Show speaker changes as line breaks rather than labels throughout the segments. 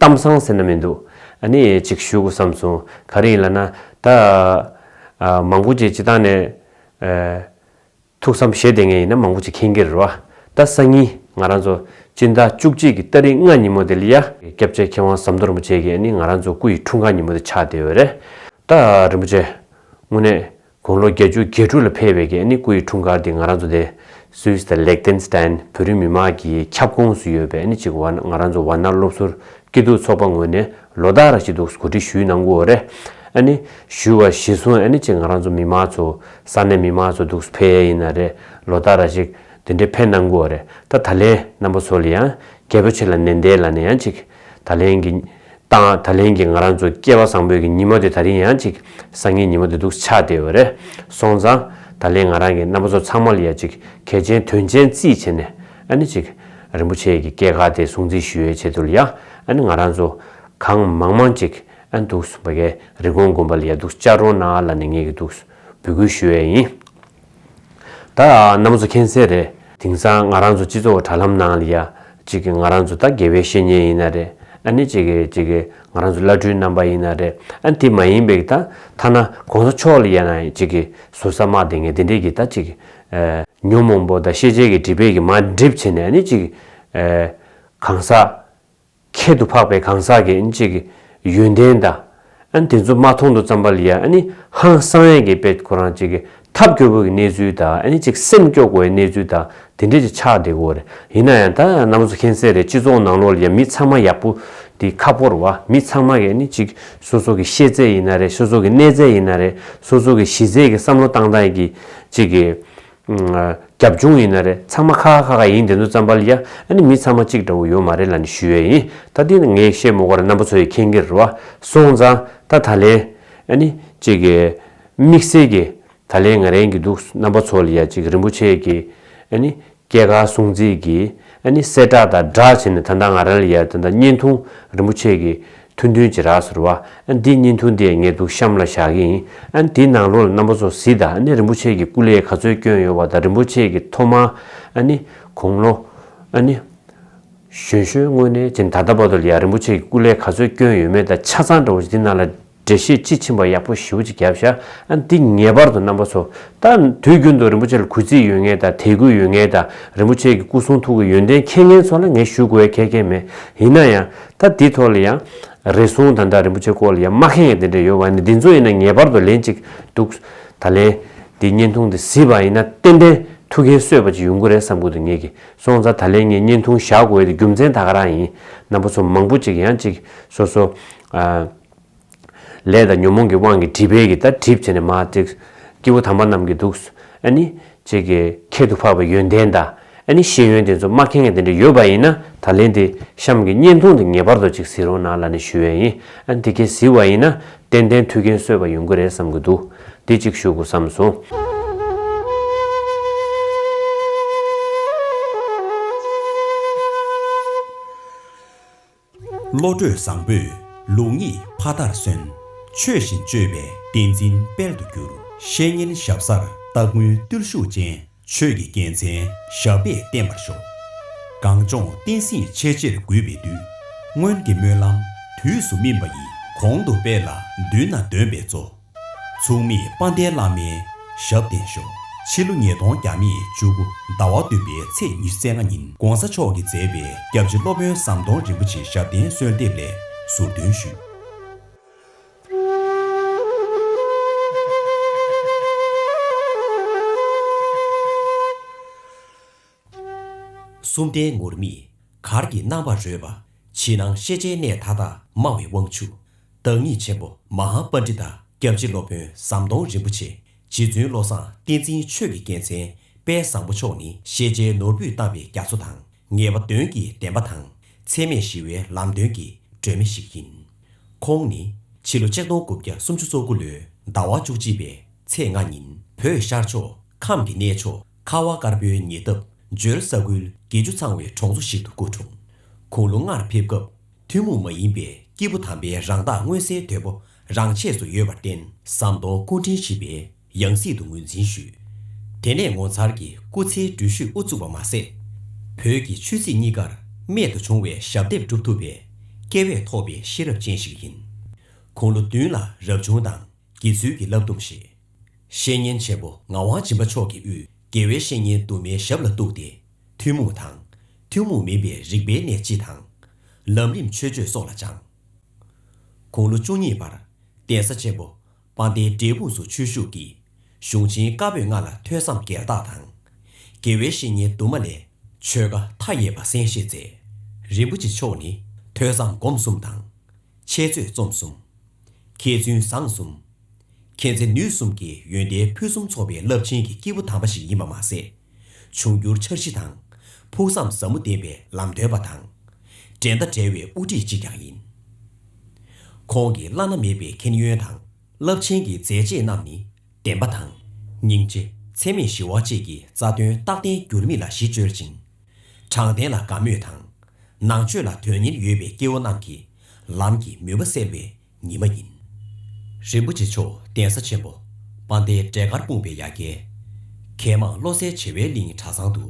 གཏམ་བཟང་ཟེར་ན་མི་འདུག་ཨ་ནི་ཅིག་ཞུ་དགོས་བསམ་སོང་ག་རེ་ཡིན་ལ་ན་ད། མང་པོ་ཅིག་སྤྱི་བཏང་ནས། ཐུགས་བསམ་བཞེས་བསྡད་ངེས་ཡིན་ན་མང་པོ་ཅིག་ཁེངས་ཀྱི་རེད་བ། ད་སང་ཉིན་ང་རང་ཚོ་སྤྱི་ཟླ་བཅུ་གཅིག་གི་སྟ་རིང་ལྔ་ཉིན་མོ་དེ་ལ་ཡ། སྐྱབས་རྗེ་མཁས་དབང་ཟམ་གདོང་རིན་པོ་ཆེ་གིས་ཨ་ནི་ང་རང་ཚོ་སྐུ་ཡི་འཁྲུངས་སྐར་ཉིན་མོ་དེ་ཆགས་བསྡད་ཡོད་རེད། ད་རིན་པོ་ཆེ། དངོས་གནས། དགུང་ལོ་གྱ་གཅུ་གྱ་དྲུག་ལ་ཕེབས་པའི་གནས་སྐུ་ཡི་འཁྲུངས་སྐར་དེ་ང་རང་ཚོ་དེ Swiss དང Liechtenstein བོད་རིགས་མི་མང་གི་ཁྱབ་ཁོངས་སུ་ཡོད་པའི་གཅིག་བར་ང་རང་ཚོ་བར་སྣང་སློབ་གསོར་སྐྱིད་སྡུག་ཚོགས་པ་ངོས་ནས་ལོ་ཟླ་ར་ཅི་འདུག་གོ་སྒྲིག་ཞུས་གནང་གོ་རེ་ཞུས་བ་གཞི་བཟུང་གཅིག་ང་རང་ཚོ་མི་མང་ཚོ་ས་གནས་མི་མང་ཚོ་འདུག་ཕེབས་ཡས་ཡིན་ན་རེ་ལོ་ཟླ་ར་ཅིག་འདི་འདྲའི་ཕེབས་གནང་གོ་རེ་ད་ད་ལན་རྣམ་པ་ཚོ་ལ་ཡང་རྒྱལ་པོ་ཆེ་ལ་ནན་ཏན་ལ་ནས་ཡང་གཅིག་ད་ལན་གྱི། དང་ད་ལན་གྱི་ང་རང་ཚོ་སྐྱེ་བ་བཟང་པོས་ཀྱི་ཉི་མ་དེ་ད་རིང་ཡང་ཅིག་བཟང་ངན་ཉི་མ་དེ་འདུག་ཆགས་བསྡད་འོད་རེད་སོང་ཙང། ད་ལན་ང་རང་གི་རྣམ་པ་ཚོ་ཚང་མ་ལ་ཡ་ཅིག་གལ་ཆེན་དོན་ཆེན་རྩིས་བྱེད་ནས་ཨ་ནི་ཅིག། རིན་པོ་ཆེ་ཡི་གི་སྐྱེ་ཁ་དེ་སྲུང་རྩིས་ཞུ་ཡའི་ཆེད་དུ་ལ་ཡ་ཨ་ནི་ང་རང་ཚོ་གང་མང་མང་ཅིག་ཨ་འདུག་བ་གའི་རི་གོང་དགོན་པ་ལ་ཡ་འདུག་ཅག་རོང་ན་ལ་ནས་ངེས་གི་འདུག་འབུལ་སྐུལ་ཞུ་ཡའི་ཡིན། ད་ནམ་ཚོ་མཁྱེན་གསལ་རེད། དེང་སང་ང་རང་ཚོ་སྤྱི་ཚོགས་དྲ་ལམ་ནང་ལ་ཡ། ཅིག་ང་རང་ཚོ་ད་དགེ་བའི་བཤེས་གཉེན་ཡིན་ན་རེད་ཨ་ནི་ཅིག་ཅིག་ང་རང་ཚོ་བླ་སྤྲུལ་རྣམ་པ་ཡིན་ན་རེད་ཨ་དེ་མ་ཡིན་པའི་ད་ཐ་ན་གོང་ས་མཆོག་ལ་ཡ་ན་ཅིག་བཟོ་ས་མ་དེ་ངས་དེ་འདྲས་ཀྱི་ད་ཅིག་ཉོན་མོངས་པོ་ད་ཤེས་བྱའི་གི་དྲི་བས་གི་མ་བསྒྲིབས་བྱས་ནས་ཨ་ནི་ཅིག་གང་ཟག་ཁྱད་དུ་འཕགས་པའི་གང་ཟག་གིས་ཨེན་ཅིག་གི་ཡོན་ཏན་དང། ཨན་དེ་ཚོ་མ་མཐོང་དུ་བརྩམས་པ་ལ་ཡ་ཨན་ནི་ཧང་བསང་ཡན་གྱི་དཔེ་ཁོ་རང་ཅིག་གི་ཐབས་སྐྱོ་བོ་གི་གནས་ཚུལ་དང་ཨན་ཅིག་སེམས་སྐྱོ་དགོས་གནས་ཚུལ་དང་དེ་འདྲས་ཅིག་ཆགས་བསྡད་གོ་རེ་ཡིན་ན་ཡང་ད་ནམ་བཟོ་མཁན་གསལ་རེད་སྤྱི་ཚོགས་ནང་ལོག་ལ་ཡ་མི་ཚང་མ་ཡག་པོ་དེ་ཁ་ཕོར་བ་མི་ཚང་མ་གི་ཨན་ཅིག་སོ་སོ་གི་ཤེས་ཚད་ཡིན་ན་རེད་སོ་སོ་གི་གནས་ཚད་ཡིན་ན་རེད་སོ་སོ་གི་གཞི་རྩའི་གི་བསམ་བློ་བཏང་སྟངས་ཡིན་གྱི་ཅིག་གི་རྒྱབ་ལྗོངས་ཡིན་ན་རེད་ཚང་མ་ཁ་ཁ་ཁ་ཁ་ཡིན་དེ་ཚོ་རྩམ་པར་ཡ་ཨ་ནི་མི་ཚང་མ་གཅིག་འདྲ་བོ་ཡོད་མ་རེད་ལ་ནི་ཞུ་ཡས་ཡིན་ད་འདི་ནི་ངས་བཤད་མོ་དགོ་ར་རྣམ་པ་ཚོ་ཡི་ཁེན་གིར་བ་སོང་ཙང་ད་ད་ལན་ཨ་ནི་གཅིག་གི་དམིགས་བསལ་གི་ད་ལན་ང་རན་གི་འདུག་རྣམ་པ་ཚོ་ལ་ཡ་གཅིག་རིན་པོ་ཆེ་གི་ཨ་ནི་སྐྱེ་ཁར་སྲུང་བརྩི་གི་ཨ་ནི་གསལ་བསྒྲགས་དང་སྒྲགས་བྱེད་ནི་ད་ད་ང་ར་ལ་ཡ་ད་ད་བརྙན་ཐུང་རིན་པོ་ཆེ་གི་ཐུན་ཐུན་གྱི་རགས་སུ་རུ་བ། འདི་གཉིས་མཐུན་ཏེ་ངེད་དུག་ཤམ་ལ་བཞག་གི་ཡིན། དེའི་ནང་རོ་ལ་རྣམ་པ་ཚོ་གཟི་དང་ནི་རིན་པོ་ཆེ་གི་སྐུ་ལས་ག་ཚོད་སྐྱོན་ཡོད་བ་དང་རིན་པོ་ཆེ་གི་ཐོག་མ། ནི། གུང་ལོ། ནི། ཞོན་ཞོན་དངོས་གནས་ཅན་ད་ལྟ་བར་དུ་ལ་ཡང་རིན་པོ་ཆེ་གི་སྐུ་ལས་ག་ཚོད་སྐྱོན་ཡོད་མེད་དང་ཆ་ཚང་འདྲ་བོ་ཅིག་འདི་ནང་ལ་འགྲེལ་བཤད་དཔྱིས་ཕྱིན་པ་ཡག་པོ་ཞིའུ་ཅིག་བརྒྱབ་བཞག་འདི་ངེས་པར་དུ་རྣམ་པ་ཚོ་ད་དུས་རྒྱུན་དུ་རིན་པོ་ཆེ་ལ་གུས་བརྩི་ཡོད་ངེས་དང་དད་གུས་ཡོད་ངེས་དང་རིན་པོ་ཆེ་གི་སྐུ་གསུང་ཐུགས་ཀྱི་ཡོན་ཏན་མཁྱེན་མཁན་ཚོ་ལ་ངས་ཞུ་དགོས་བའི་ཁེ་ཁེ་མེད་ཡིན་ན་ཡང་ད་འདི་ཐོག་ལ་ཡང་རེ་ཟུང་ད་ལྟ་རིན་པོ་ཆེ་སྐོར་ལ་ཡང་སྨྲ་མཁན་ཡང་དེ་འདྲ་ཡོད་པ་ནི་འདི་ཚོ་ཡིན་ན་ངེས་པར་དུ་ལན་ཅིག་འདུག་ད་ལན་འདི་བརྙན་ཐུང་འདི་གཟིགས་པ་ཡིན་ན་ཏན་ཏན་ཐུགས་འགན་གསོས་པ་ཅིག་ཡོང་གི་རེད་བསམ་གི་འདུག་ངེད་ཀྱི་སོང་ཙང་ད་ལན་ངས་བརྙན་ཐུང་བཞག་དགོས་ཡོད་དེ་རྒྱུ་མཚན་ད་ག་རང་ཡིན་ནམ་པ་ཚོ་མང་པོ་ཅིག་ཡང་ཅིག་སོ་སོ། ལས་དང་ཉོན་མོངས་ཀྱི་དབང་གིས་སྒྲིབ་པས་ཀྱི་ལྟར་གྲིབ་བྱས་ནས་མ་བརྩེགས། སྐྱེ་བོ་དམ་པ་རྣམས་ཀྱིས་འདུག། ཨཱ་ནི། ཅེས་ཀྱི། ཁྱད་དུ་འཕགས་པའི་ཡོན་ཏན་དང། ཨཱ་ནི་ཤེས་ཡོན་དེ་ཚོ་མ་མཁྱེན་མཁན་དེ་འདྲ་ཡོད་པ་ཡིན་ན་ད་ལན་དེ་གཤམ་གྱི་བརྙན་ཐུང་དེ་ངེས་པར་དུ་ཅིག་གཟིགས་རོགས་གནང་ལ་ནི་ཞུ་འོས་ཡིན། ཨཱ་ནི་དེ་ཁྱེད་གཟིགས་བ་ཡིན་ན་ཏན་ཏན་ཐུགས་འགན་གསོས་པ་ཡོང་གི་རེད་བསམ་གྱི་འདུག་འདི་གཅིག་ཞུ་དགོས་བསམ་སོང།
བློ་གྲོས་བཟང་པོས་ལུགས་གཉིས་ཕ་མཐར་སོན། ཆོས་བཞིན་སྤྱོད་པས་བསྟན་འཛིན་དཔལ་དུ་གྱུར། བཤེས་གཉེན་ཞབས་སར་སྟ་གོན་བརྟུལ་ཞུགས་ཅན། ཆོས་ཀྱི་རྒྱལ་མཚན་ཞབས་པད་བརྟན་པར་ཤོག། གངས་ལྗོངས་བསྟན་སྲིད་ཆེས་ཆེར་གུས་པས་འདུད། སྔོན་གྱི་སྨོན་ལམ་དུས་སུ་སྨིན་པ་ཡིས་གོང་དུ་སྤེལ་ལ་མདུན་ན་འདོན་པའི་གཙོ། མཚུངས་མེད་དཔའ་ལྡན་བླ་མའི་ཞབས་བརྟན་ཤོག། ཕྱི་ལོ་ཉིས་སྟོང་གྱ་མི་བཅུ་དགུ་ཟླ་བ་བདུན་པའི་ཚེས་ཉེར་བརྩེགས་ལྔ་ཉིན ྋགོང་ས་མཆོག་གིས་མཛད་པའི་སྐྱབས་རྗེ་སློབ་དཔོན་ཟམ་གདོང་རིན་པོ་ཆེའི་ཞབས་བརྟན་གསོལ་འདེབས་ལས་ཟུར་འདོན་ཞུས། གསུམ་ལྡན་ངུར་སྨྲིག་གར་གྱི་སྣང་བར་རོལ་པ། ཕྱི་ནང་ཤེས་བྱའི་གནས་མཐའ་དག་སྨྲ་བའི་དབང་ཕྱུག། བདག་ཉིད་ཆེན་པོ་མ་ཧཱ་པ་ཎྜི་ཏཱ་སྐྱབས་རྗེ་སློབ་དཔོན་ཟམ་གདོང་རིན་པོ་ཆེ་རྗེ་བཙུན་བློ་བཟང་བསྟན་འཛིན་ཆོས་ཀྱི་རྒྱལ་མཚན་དཔལ་བཟང་པོ་མཆོག་ནི་ཤེས་བྱའི་ནོར་བུས་བཏབ་པའི་རྒྱ་མཚོ་དང་ངེས་པ་དོན་གྱི་བདེན་པ་དང་ཚད་མེད་ཞི་བའི་ལམ་སྟོན་གྱི་སྒྲོན་མེ་ཞིག་ཡིན། ཁོང་ནི་ཕྱི་ལོ་ཆིག་སྟོང་དགུ་བརྒྱ་སུམ་ཅུ་སོ་དགུ་ལོའི་ཟླ་བ་བཅུ་གཅིག་པའི་ཚེས་ལྔ་ཉིན་བོད་ཤར་ཕྱོགས་ཁམས་ཀྱི་གནས་མཆོག་ཁ་བ་དཀར་པོའི་ཉེ་འདབས་ཇོལ་ས་ཁུལ་དགེ་བཅུ་ཚང་བའི་གྲོང་ཚོ་ཞིག་ཏུ་སྐུ་འཁྲུངས། ཁོང་ལོ་ལྔར་ཕེབས་སྐབས་ཐུན་མོང་མ་ཡིན་པའི་སྐྱེས་བུ་དམ་པའི་རང་རྟགས་མངོན་གསལ་དོད་པོ་རང་ཆས་སུ་ཡོད་པར་བརྟེན་ཟམ་གདོང་སྐུ་འཕྲེང་བཞི་པའི་ཡང་སྲིད་དུ་ངོས་འཛིན་ཞུས། དེ་ནས་ངོ་མཚར་གྱི་སྐུ་ཚེའི་འགྲུལ་བཞུད་དབུ་བཙུགས་པ་མ་ཟད། བོད་ཀྱི་ཆོས་སྲིད་གཉིས་ཀར་རྨད་དུ་བྱུང་བའི་ཞབས་འདེབས་བསྒྲུབ་ཐུབ་པའི་བསྐལ་བས་ཐོགས་པའི་ཤེས་རབ་ཅན་ཞིག་ཡིན། ཁོང་ལོ་བདུན་ལ་རབ་བྱུང་དང་དགེ་ཚུལ་གྱི་བསླབ་སྡོམ་བཞེས། བཤེས་གཉེན་ཆེན་པོ་ངག་དབང་སྦྱིན་པ་མཆོག་གི་དབུས་དགེ་བའི་བཤེས་གཉེན་དུ་མའི་ཞབས་ལ་གཏུགས་ཏེ། ཐུན་མོང་དང། ཐུན་མོང་མིན་པའི་རིག་པའི་གནས་སྤྱི་དང། ལམ་རིམ་ཆོས་སྤྱོད་སོགས་ལ་སྦྱངས། དགུང་ལོ་བཅུ་གཉིས་པར། གདན་ས་ཆེན་པོ་པཎ་ཏའི་འབྲས་སྤུངས་སུ་ཆོས་ཞུགས་ཀྱིས། གཞུང་ཆེན་བཀའ་པོད་ལྔ་ལ་ཐོས་བསམ་སྒེར་བདག་དང། དགེ་བའི་བཤེས་གཉེན་དུ་མ་ལས། ཆོས་བཀའ་མཐའ་ཡས་པ་གསན་བཞེས་མཛད། རིན་པོ་ཆེ་མཆོག་ནི་ཐོས་བསམ་སྒོམ་གསུམ་དང། འཆད་རྩོད་རྩོམ་གསུམ། མཁས་བཙུན་བཟང་གསུམ། མཁྱེན་བརྩེ་ནུས་གསུམ་གྱི་ཡོན་ཏན་ཕུན་སུམ་ཚོགས་པའི་རླབས་ཆེན་གྱི་སྐྱེས་བུ་དམ་པ་ཞིག་ཡིན་པ་མ་ཟད། འབྱུང་འགྱུར་འཆར་གཞི་དང། ཕུགས་བསམ་ཟབ་མོ་ལྡན་པའི་ལམ་སྟོན་པ་དང། འགྲན་ཟླ་བྲལ་བའི་དབུ་ཁྲིད་ཅིག་ཀྱང་ཡིན། ཁོང་གི་བླ་ན་མེད་པའི་མཁྱེན་ཡོན་དང། རླབས་ཆེན་གྱི་མཛད་རྗེས་རྣམས་ནི་བདེན་པ་དང། སྙིང་རྗེ། འཚེ་མེད་ཞི་བ་བཅས་ཀྱི་རྩ་དོན་རྟག་བརྟན་འགྱུར་མེད་ལ་གཞི་བཅོལ་ཅིང། དྲང་བདེན་ལ་དགའ་མོས་དང། ནང་ཆོས་ལ་དོན་སྙིང་ཡོད་པའི་སྐྱེ་བོ་རྣམས་ཀྱི་ལམ་གྱི་མུན་པ་སེལ་བའི། ཉི་མ་ཡིན། རིན་པོ་ཆེ་མཆོག་གདན་ས་ཆེན་པོ་སྤང་སྟེ་འབྲས་དཀར་སྤུངས་པའི་ཡ་གྱལ། མཁས་མང་བློ་གསལ་བྱེ་བའི་གླིང་གྲྭ་ཚང་དུ་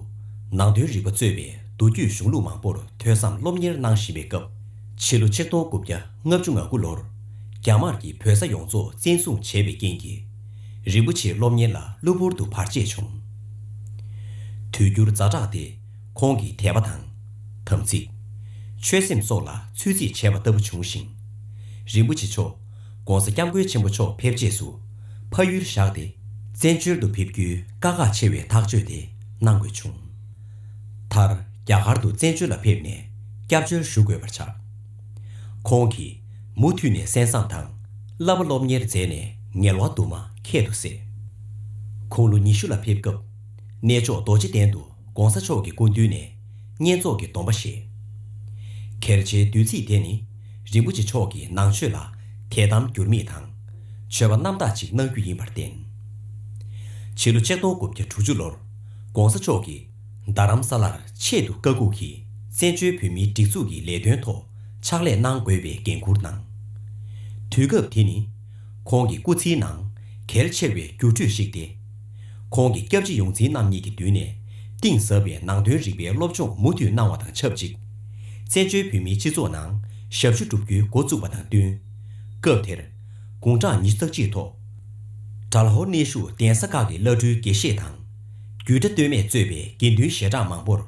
ནང་དོན་རིག་པ་གཙོས་པའི་མདོ་རྒྱུད་གཞུང་ལུགས་མང་པོར་ཐོས་བསམ་སློབ་གཉེར་གནང་བཞིན་པའི་སྐབས། ཕྱི་ལོ་ཆིག་སྟོང་དགུ་བརྒྱ་ལྔ་བཅུ་ང་དགུ་ལོར་རྒྱ་དམར་གྱིས་བོད་ས་ཡོངས་རྫོགས་བཙན་བཟུང་བྱས་པའི་རྐྱེན་གྱིས། རིན་པོ་ཆེའི་སློབ་གཉེར་ལ་གློ་བུར་དུ་བར་ཆད་བྱུང། དུས་འགྱུར་རྫ་དྲགས་ཏེ། ཁོང་གི་དད་པ་དང། དམ་ཚིག། ཆོད་སེམས་སོགས་ལ་ཚོད་རྩིས་བྱས་པ་ལྟ་བུ་བྱུང་ཞིང། རིན་པོ་ཆེ་མཆོག ྋགོང་ས ྋསྐྱབས་མགོན་ཆེན་པོ་མཆོག་ཕེབས་རྗེས་སུ་ཕ་ཡུལ་བཞག་སྟེ་བཙན་བྱོལ་དུ་ཕེབས་རྒྱུའི་དཀའ་ཁག་ཆེ་བའི་ཐག་གཅོད་དེ་གནང་དགོས་བྱུང། མཐར་རྒྱ་གར་དུ་བཙན་བྱོལ་ལ་ཕེབས་ནས་སྐྱབས་བཅོལ་ཞུ་དགོས་པར་ཆགས། ཁོང་གིས་མུ་མཐུད་ནས་གསན་བསམ་དང་བསླབ་པ་སློབ་གཉེར་མཛད་ནས་ངལ་བ་དུ་མ་ཁད་དུ་བསྲེས། ཁོང་ལོ་ཉི་ཤུ་ལ་ཕེབས་སྐབས་གནས་མཆོག་རྡོ་རྗེ་གདན་དུ། ྋགོང་ས་མཆོག་གི་སྐུ་མདུན་ནས་བསྙེན་རྫོགས་ཀྱི་སྡོམ་པ་བཞེས། གལ་ཆེའི་བདུད་རྩི་དེ་ནི་རིན་པོ་ཆེ་མཆོག་གི་ནང་ཆོས་ལ་དད་དམ་འགྱུར་མེད་དང། མཆོད་པ་རྣམ་དག་ཅིག་གནང་རྒྱུ་ཡིན་པར་བརྟེན། ཕྱི་ལོ་ཆིག་སྟོང་དགུ་བརྒྱ་དྲུག་ཅུ་ལོར ྋགོང་ས་མཆོག་གིས་རྡ་རམ་ས་ལར་ཆེད་དུ་བཀའ་བཀུག་གིས་བཙན་བྱོལ་བོད་མིའི་སྒྲིག་འཛུགས་ཀྱི་ལས་དོན་ཐོག་ཕྱག་ལས་གནང་དགོས་པའི་འགན་ཁུར་གནང། དུས་སྐབས་དེ་ནི་ཁོང་གི་སྐུ་ཚེའི་ནང་གལ་ཆེ་བའི་འགྱུར་འགྲོས་ཤིག་སྟེ། ཁོང་གི་སྐྱབས་རྗེ་ཡོངས་འཛིན་རྣམ་གཉིས་ཀྱི་མདུན་ནས། གཏིང་ཟབ་པའི་ནང་དོན་རིག་པའི་སློབ་སྦྱོང་མུ་མཐུད་གནང་བ་དང་ཆབས་ཅིག། བཙན་བྱོལ་བོད་མིའི་སྤྱི་ཚོགས་ནང་ཞབས་ཞུ་བསྒྲུབ་རྒྱུའི་འགོ་བཙུགས་པ་དང་བསྟུན། སྐབས་དེར། དགུང་གྲངས་ཉི་ཤུ་རྩ་གཅིག་ཐོག། དགྲ་ལྷོ་གནས་ཤུགས་ལྡན་ས་ཁག་གི་བླ་སྤྲུལ་དགེ་བཤེས་དང། རྒྱུད་གྲྭ་སྟོད་སྨད་གཙོས་པའི་དགེ་འདུན་ཞལ་གྲངས་མང་པོར།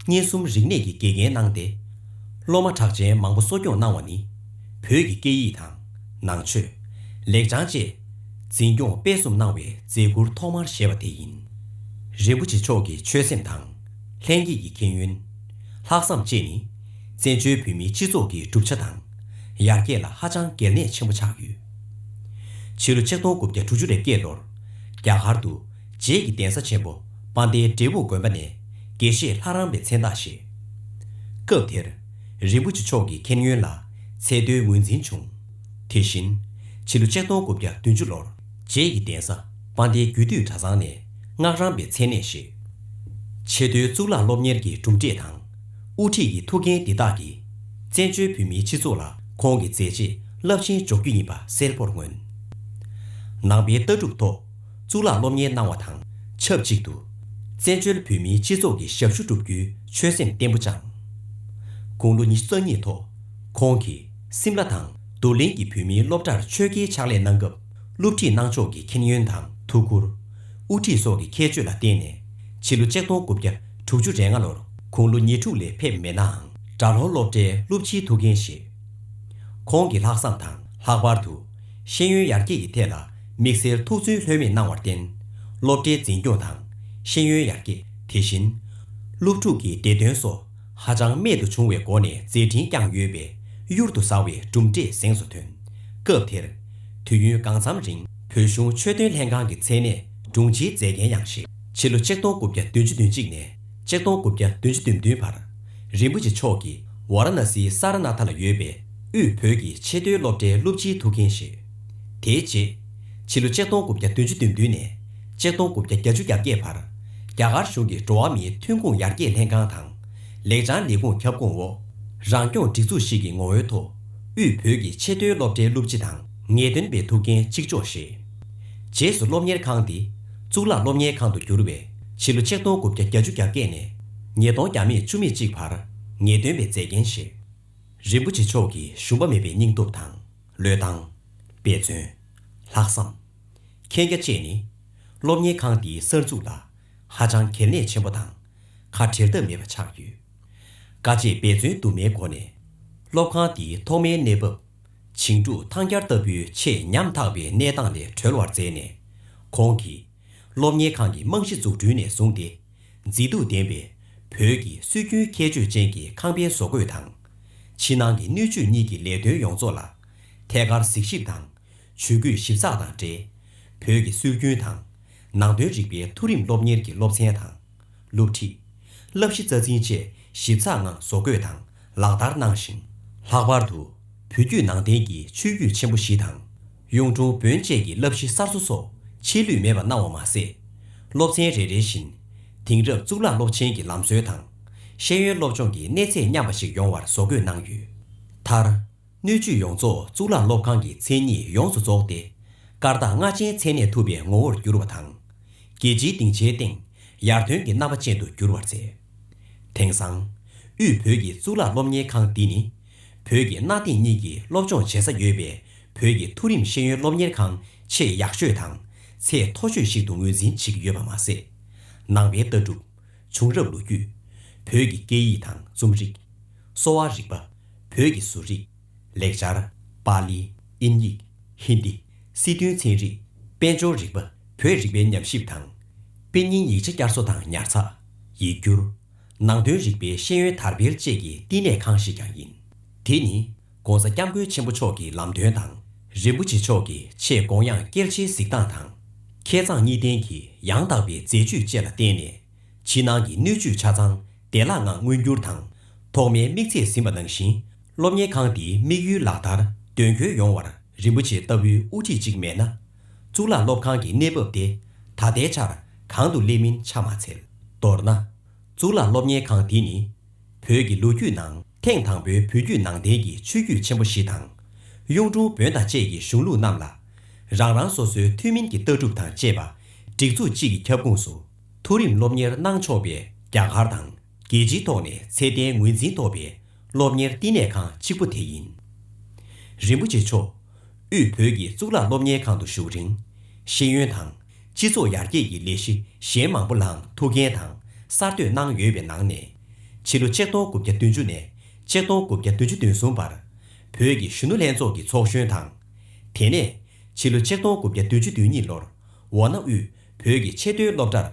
སྙན་གསུམ་རིག་གནས་ཀྱི་དགེ་རྒན་གནང་སྟེ། སློབ་མ་གྲགས་ཅན་མང་པོ་གསོ་སྐྱོང་གནང་བ་ནི། བོད་ཀྱི་སྐད་ཡིག་དང། ནང་ཆོས། ལེགས་བྱང་བཅས། འཛིན་སྐྱོང་སྤེལ་གསུམ་གནང་བའི་མཛད་བཀུར་ཐོག་མར་བཞེས་པ་དེ་ཡིན། རིན་པོ་ཆེ་མཆོག་གི་ཆོད་སེམས་དང། ལྷན་སྐྱེས་ཀྱི་མཁྱེན་ཡོན། ལྷག་བསམ་བཅས་ནི། བཙན་བྱོལ་བོད་མིའི་སྤྱི་ཚོགས་ཀྱི་གྲུབ་ཆ་དང། ཡར་རྒྱས་ལ་ཧ་ཅང་གལ་གནད་ཆེན་པོ་ཆགས་ཡོད། ཕྱི་ལོ་ཆིག་སྟོང་དགུ་བརྒྱ་དྲུག་ཅུ་རེ་བརྒྱད་མདོར། རྒྱ་གར་དུ། རྗེས་ཀྱི་གདན་ས་ཆེན་པོ་པཱ་ཏའི་འབྲས་བུ་དགོན་པ་ནས་དགེ་བཤེས་ལྷ་རམས་པའི་མཚན་རྟགས་བཞེས། སྐབས་དེར། རིན་པོ་ཆེ་མཆོག་གི་མཁྱེན་ཡོན་ལ་ཚད་མཐོའི་ངོས་འཛིན་བྱུང། དེ་བཞིན། ཕྱི་ལོ་ཆིག་སྟོང་དགུ་བརྒྱ་བདུན་ཅུ་ལོར། རྗེས་ཀྱི་གདན་ས་སྤང་སྟེ་རྒྱུད་སྟོད་གྲྭ་ཚང་ནས་སྔགས་རམས་པའི་མཚན་གནས་བཞེས། ཆེས་མཐོའི་གཙུག་ལག་སློབ་གཉེར་གྱི་གྲུབ་འབྲས་དང། དབུ་ཁྲིད་ཀྱི་ཐུགས་འགན་འདི་དག་གིས། བཙན་བྱོལ་བོད་མིའི་སྤྱི་ཚོགས་ལ་ཁོང་གི་མཛད་རྗེས་རླབས་ཆེན་འཇོག་རྒྱུ་ཡིན་པ་གསལ་བོར་མངོན། ནང་པའི་ལྟ་གྲུབ་ཐོག་གཙུག་ལག་སློབ་གཉེར་གནང་བ་དང་ཆབས་ཅིག་ཏུ། བཙན་བྱོལ་བོད་མིའི་སྤྱི་ཚོགས་ཀྱི་ཞབས་ཞུ་བསྒྲུབ་རྒྱུའི་ཆོད་སེམས་བརྟན་པོ་བཅངས། དགུང་ལོ་ཉི་ཤུ་རྩ་གཉིས་ཐོག་ཁོང་གིས། སིམ་ལ་དང་རྡོར་གླིང་གི་བོད་མིའི་སློབ་གྲྭར་ཆོས་དགེའི་ཕྱག་ལས་གནང་སྐབས་སློབ་ཁྲིད་གནང་ཕྱོགས་ཀྱི་མཁྱེན་ཡོན་དང་ཐུགས་ཁུར། དབུ་ཁྲིད་སོགས་ཀྱི་ཁྱད་ཆོས་ལ་བརྟེན་ནས་ཕྱི་ལོ་ཆིག་སྟོང་དགུ་བརྒྱ་དྲུག་ཅུ་རེ་ལྔ་ལོར་ཁོང་ལོ་ཉེར་དྲུག་ལས་ཕེབས་མེད་ནའང་གྲྭ་ལྷོ་སློབ་གྲྭའི་སློབ་ཕྱིའི་ཐུགས་འགན་བཞེས། ཁོང་གི་ལྷག་བསམ་དང་ལྷག་པར་དུ་ཤེས་ཡོན་ཡར་རྒྱས་ཀྱི་ཐད་ལ་དམིགས་བསལ་ཐུགས་བརྩོན་ལྷོད་མེད་གནང་བར་བརྟེན་སློབ་གྲྭའི་འཛིན་སྐྱོང་དང་ཤེས་ཡོན་ཡར་རྒྱས་དེ་བཞིན་སློབ་ཕྲུག་གི་བདེ་དོན་སོགས། ཧ་ཅང་རྨད་དུ་བྱུང་བའི་སྒོ་ནས་མཛད་འཕྲིན་བསྐྱངས་ཡོད་པས་གཡུར་དུ་ཟ་བའི་གྲུབ་འབྲས་གཟེངས་སུ་ཐོན། སྐབས་དེར། དུས་ཡུན་གང་འཚམ་རིང་བོད་གཞུང་ཆོས་དོན་ལྷན་ཁང་གི་མཚན་གནས་དྲུང་ཆེའི་མཛད་འགན་ཡང་བཞེས། ཕྱི་ལོ་ཆིག་སྟོང་དགུ་བརྒྱ་བདུན་ཅུ་དོན་གཅིག་ནས་ཆིག་སྟོང་དགུ་བརྒྱ་བདུན་ཅུ་དོན་བདུན་བར། རིན་པོ་ཆེ་མཆོག་གིས་ཝཱ་ར་ན་སིའི་སཱ་ར་ནཱ་ཐ་ལ་ཡོད་པའི་དབུས་བོད་ཀྱི་ཆེས་མཐོའི་སློབ་གྲྭའི་སློབ་སྤྱིའི་ཐུགས་འགན་བཞེས། དེའི་རྗེས། ཕྱི་ལོ་ཆིག་སྟོང་དགུ་བརྒྱ་བདུན་ཅུ་བདུན་བདུན་ནས་ཆིག་སྟོང་དགུ་བརྒྱ་བརྒྱ་ཅུ་གྱ་བརྒྱད་བར། རྒྱ་གར་གཞུང་གིས་འགྲོ་བ་མིའི་ཐོན་ཁུངས་ཡར་རྒྱས་ལྷན་ཁང་དང། ལེགས་བྱང་ལས་ཁུངས་ཁྱབ་ཁོངས་འོག་རང་སྐྱོང་སྒྲིག་འཛུགས་ཤིག་གི་ངོ་བོའི་ཐོག། དབུས་བོད་ཀྱི་ཆེས་མཐོའི་སློབ་གྲྭའི་སློབ་སྤྱི་དང། ངེས་སྟོན་པའི་ཐུགས་འགན་གཅིག་ལྕོགས་བཞེས། རྗེས་སུ་སློབ་གཉེར་ཁང་དེ་གཙུག་ལག་སློབ་གཉེར་ཁང་དུ་གྱུར་བས་ཕྱི་ལོ་ཆིག་སྟོང་དགུ་བརྒྱ་བརྒྱ་ཅུ་གྱ་བརྒྱད་ནས་ཉིས་སྟོང་གྱ་མེད་བཅུ་མེད་གཅིག་བར་ངེས་སྟོན་པའི་མཛད་འགན་བཞེས། རིན་པོ་ཆེ་མཆོག་གིས་ཞུམ་པ་མེད་པའི་སྙིང་སྟོབས་དང། བློས་བཏང། དཔེ་མཚོན། ལྷག་བསམ། མཁྱེན་རྒྱ་བཅས་ནི། སློབ་གཉེར་ཁང་འདིའི་གསར་འཛུགས་ལ། ཧ་ཅང་གལ་གནད་ཆེན་པོ་དང། ཁ་བྲལ་ཐབས་མེད་པ་ཆགས་ཡོད། དཀའ་སྤྱད་འབད་བརྩོན་དུ་མའི་སྒོ་ནས། སློབ་ཁང་འདིའི་ཐོག་མའི་གནས་བབ། བྱིངས་དྲུག་ཐང་སྐྱར་ལྟ་བུའི་ཆེས་ཉམ་ཐག་པའི་གནས་སྟངས་ལས་གྲོལ་བར་མཛད་ནས། ཁོང་གིས། སློབ་གཉེར་ཁང་གི་རྨང་གཞི་འཛུགས་སྐྲུན་ནས་བཟུང་སྟེ། མཛེས་སྡུག་ལྡན་པའི་བོད་ཀྱི་སྲོལ་རྒྱུན་ཁྱད་ཆོས་ཅན་གྱི་ཁང་པའི་བཟོ་བཀོད་དང། ཕྱི་ནང་གི་སྣོད་བཅུད་གཉིས་ཀྱི་ལས་དོན་ཡོངས་རྫོགས་ལ། ཐད་ཀར་གཟིགས་ཞིབ་དང་ཇུས་འགོད་ཞིབ་ཚགས་དང་འབྲེལ། བོད་ཀྱི་སྲོལ་རྒྱུན་དང། ནང་དོན་རིག་པའི་མཐོ་རིམ་སློབ་གཉེར་གྱི་སློབ་ཚན་དང། སློབ་ཁྲིད། བསླབ་གཞི་རྩ་འཛིན་བཅས་ཞིབ་ཚགས་ངང་བཟོ་བཀོད་དང་ལག་བསྟར་གནང་ཞིང། ལྷག་པར་དུ་བོད་བརྒྱུད་ནང་བསྟན་གྱི་ཆོས་བརྒྱུད་ཆེན་པོ་བཞི་དང། གཡུང་དྲུང་བོན་བཅས་ཀྱི་བསླབ་གཞི་གསར་བཟོ་སོགས་ཆད་ལུས་མེད་པར་གནང་བ་མ་ཟད། སློབ་ཚན་རེ་རེ་བཞིན། དེང་རབས་གཙུག་ལག་སློབ་ཆེན་གྱི་ལམ་སྲོལ་དང། ཤེས་ཡོན་སློབ་སྦྱོང་གི་གནས་ཚད་མཉམ་པ་ཞིག་ཡོང་བར་བཟོ་འགོད་གནང་ཡོད། མཐར། སྣོད་བཅུད་ཡོངས་རྫོགས་གཙུག་ལག་སློབ་ཁང་གི་མཚན་ཉིད་ཡོངས་སུ་རྫོགས་ཏེ། སྐར་རྟགས་ལྔ་ཅན་མཚན་གནས་ཐུབ་པའི་ངོ་བོར་གྱུར་བ་དང། རྒྱལ་སྤྱིའི་སྡིངས་ཆའི་སྟེང་ཡར་ཐོན་གྱི་རྣམ་པ་ཅན་དུ་འགྱུར་བར་མཛད། དེང་སང། དབུས་བོད་ཀྱི་གཙུག་ལག་སློབ་གཉེར་ཁང་འདི་ནི། བོད་ཀྱི་གནའ་དེང་གཉིས་ཀྱི་སློབ་སྦྱོང་བྱེད་ས་ཡོད་པའི་བོད་ཀྱི་མཐོ་རིམ་ཤེས་ཡོན་སློབ་གཉེར་ཁང་ཆེས་ཡག་ཤོས་དང་ཚད་མཐོ་ཤོས་ཤིག་ཏུ་ངོས་འཛིན་བྱེད་ཀྱི་ཡོད་པ་མ་ཟད། ནང་པའི་ལྟ་གྲུབ། བྱུང་རབས་ལོ་རྒྱུས། བོད་ཀྱི་སྐད་ཡིག་དང་རྩོམ་རིག། གསོ་བ་རིག་པ། བོད་ཀྱི་བཟོ་རིག། ལེགས་སྦྱར། པཱ་ལི། དབྱིན་ཡིག། ཧིན་རྡི། སྲིད་དོན་ཚན་རིག། དཔལ་འབྱོར་རིག་པ། བོད་རིག་པའི་ཉམས་ཞིབ་དང། དཔེ་རྙིང་ཡིག་ཆ་བསྐྱར་གསོ་དང་ཉར་ཚགས། ཡིག་སྒྱུར། ནང་དོན་རིག་པའི་ཤེས་ཡོན་དར་འཕེལ་བཅས་ཀྱི་བསྟི་གནས་ཁང་ཞིག་ཀྱང་ཡིན། དེ་ནི། ྋགོང་ས ྋསྐྱབས་མགོན་ཆེན་པོ་མཆོག་གི་ལམ་སྟོན་དང། རིན་པོ་ཆེ་མཆོག་གི་ཆེད་དགོངས་དབྱངས་སྐྱེལ་བྱེད་གཟིགས་སྟངས་དང། མཁས་མཛངས་གཉིས་ལྡན་གྱི་ཡང་དག་པའི་མཛད་བྱུས་བཅས་ལ་བརྟེན་ནས། ཕྱི་ནང་གི་སྣོད་བཅུད་ཆ་ཚང་བདེ་བླག་ངང་མངོན་འགྱུར་དང། ཐོག་མའི་དམིགས་ཚད་ཟིན་པ་ནང་བཞིན་སློབ་གཉེར་ཁང་འདིའི་དམིགས་ཡུལ་ལག་བསྟར་དོན་འཁྱོལ་ཡོང་བར་རིན་པོ་ཆེ་ལྟ་བུའི་དབུ་ཁྲིད་ཅིག་མེད་ན། གཙུག་ལག་སློབ་ཁང་གི་གནས་བབ་དེ་ད་ལྟའི་ཆར་གང་དུ་སླེབས་མིན་ཆ་མ་འཚལ། མདོར་ན། གཙུག་ལག་སློབ་གཉེར་ཁང་འདི་ནི་བོད་ཀྱི་ལོ་རྒྱུས་ནང་ཐེངས་དང་པོའི་བོད་བརྒྱུད་ནང་བསྟན་གྱི་ཆོས་བརྒྱུད་ཆེན་པོ་བཞི་དང། གཡུང་དྲུང་བོན་དང་བཅས་ཀྱི་གཞུང་ལུགས་རྣམས་ལ། རང་རང་སོ་སོའི་ཐུན་མིན་གྱི་ལྟ་གྲུབ་དང་བཅས་པ། སྒྲིག་འཛུགས་གཅིག་གི་ཁྱབ་ཁུངས་སུ་མཐོ་རིམ་སློབ་གཉེར་གནང་ཆོག་པའི་རྒྱ་གར་དང་རྒྱལ་སྤྱིའི་ཐོག་ནས་ཚད་ལྡན་ངོས་འཛིན་ཐོབ་པའི་སློབ་གཉེར་བསྟི་གནས་ཁང་གཅིག་པུ་དེ་ཡིན། རིན་པོ་ཆེ་མཆོག་དབུས་བོད་ཀྱི་གཙུག་ལག་སློབ་གཉེར་ཁང་དུ་བཞུགས་རིང། ཤེས་ཡོན་དང། སྤྱི་ཚོགས་ཡར་རྒྱས་ཀྱི་ལས་གཞི་གཞན་མང་པོ་ལའང་ཐུགས་འགན་དང་གསར་གཏོད་གནང་ཡོད་པའི་ནང་ནས། ཕྱི་ལོ་ཆིག་སྟོང་དགུ་བརྒྱ་བདུན་ཅུ་ནས་ཆིག་སྟོང་དགུ་བརྒྱ་བདུན་ཅུ་དོན་གསུམ་བར། བོད་ཀྱི་གཞོན་ནུ་ལྷན་ཚོགས་ཀྱི་ཚོགས་གཞོན་དང། དེ་ནས། ཕྱི་ལོ་ཆིག་སྟོང་དགུ་བརྒྱ་བདུན་ཅུ་དོན་གཉིས་ལོར་འོ་ན་དབུས་བོད་ཀྱི་ཆེས་མཐོའི་སློབ་གྲྭར།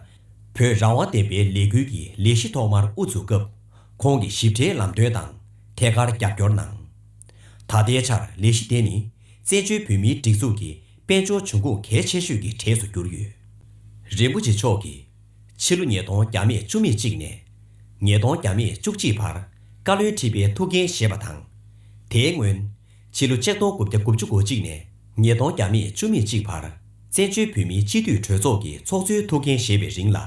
བོད་རང་དབང་བསྟན་པའི་ལས་འགུལ་གྱི་ལས་གཞི་ཐོག་མར་དབུ་འཛུགས་སྐབས། ཁོང་གི་ཞིབ་ཕྲའི་ལམ་སྟོན་དང་ཐད་ཀར་རྒྱབ་སྐྱོར་གནང། ད་ལྟའི་ཆར་ལས་གཞི་དེ་ནི་བཙན་བྱོལ་བོད་མིའི་སྒྲིག་འཛུགས་ཀྱི་དཔལ་འབྱོར་འབྱུང་ཁུངས་གལ་ཆེ་ཤོས་ཀྱི་གྲས་སུ་གྱུར་ཡོད། རིན་པོ་ཆེ་མཆོག་གིས། ཕྱི་ལོ་ཉིས་སྟོང་གྱ་མེད་བཅུ་མེད་གཅིག་ནས། ཉིས་སྟོང་གྱ་མེད་བཅུ་གཅིག་བར་བཀའ་བློན་ཁྲི་པའི་ཐུགས་འགན་བཞེས་པ་དང། དེའི་སྔོན། ཕྱི་ལོ་ཆིག་སྟོང་དགུ་བརྒྱ་དགུ་བཅུ་གོ་གཅིག་ནས་ཉིས་སྟོང་གྱ་མེད་བཅུ་མེད་གཅིག་བར་བཙན་བྱོལ་བོད་མིའི་སྤྱི་འཐུས་གྲོས་ཚོགས་ཀྱི་ཚོགས་གཙོའི་ཐུགས་འགན་བཞེས་པའི་རིང་ལ།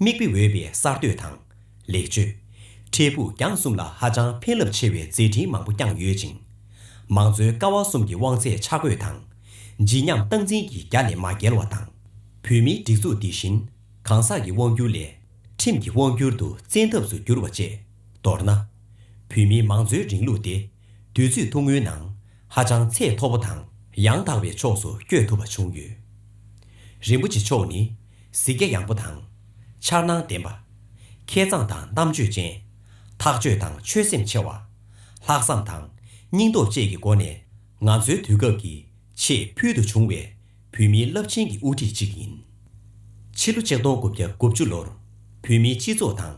མིག་དཔེ་འོས་པའི་གསར་གཏོད་དང། ལེགས་བཅོས། འཕྲལ་ཕུགས་རྒྱང་གསུམ་ལ་ཧ་ཅང་ཕན་རླབས་ཆེ་བའི་མཛད་འཕྲིན་མང་པོ་བསྐྱངས་ཡོད་ཅིང། མང་གཙོའི་ཀ་བ་གསུམ་གྱི་དབང་ཚད་ཆ་བགོས་དང། བརྗིད་ཉམས་སྟངས་འཛིན་གྱི་རྒྱ་ལས་མ་བརྒལ་བ་དང། བོད་མིའི་སྒྲིག་འཛུགས་འདི་བཞིན་གང་ཟག་གི་དབང་བསྒྱུར་ལས། ཁྲིམས་ཀྱི་དབང་བསྒྱུར་དུ་བཙན་ཐབས་སུ་བསྒྱུར་བ་བཅས། མདོར་ན། བོད་མིའི་མང་གཙོའི་རིང་ལུགས་དེ་དུས་ཚོད་ཐུང་ངུའི་ནང་ཧ་ཅང་ཚད་མཐོ་པོ་དང་ཡང་དག་པའི་ཕྱོགས་སུ་བསྐྱོད་ཐུབ་པ་བྱུང་ཡོད། རིན་པོ་ཆེ་མཆོག་ནི་གཟིགས་རྒྱ་ཡངས་པོ་དང། འཆར་སྣང་ལྡན་པ། མཁས་མཛངས་དང་རྣམ་དཔྱོད་ཅན། ཐག་གཅོད་དང་ཆོད་སེམས་ཆེ་བ། ལྷག་བསམ་དང་སྙིང་སྟོབས་བཅས་ཀྱི་སྒོ་ནས་ང་ཚོའི་དུས་སྐབས་ཀྱི་ཆེས་ཕུལ་དུ་བྱུང་བའི་བུད་མེད་རླབས་ཆེན་གྱི་དབུ་ཁྲིད་ཅིག་ཡིན། ཕྱི་ལོ་ཆིག་སྟོང་དགུ་བརྒྱ་དགུ་བཅུ་ལོར་བོད་མིའི་སྤྱི་ཚོགས་དང།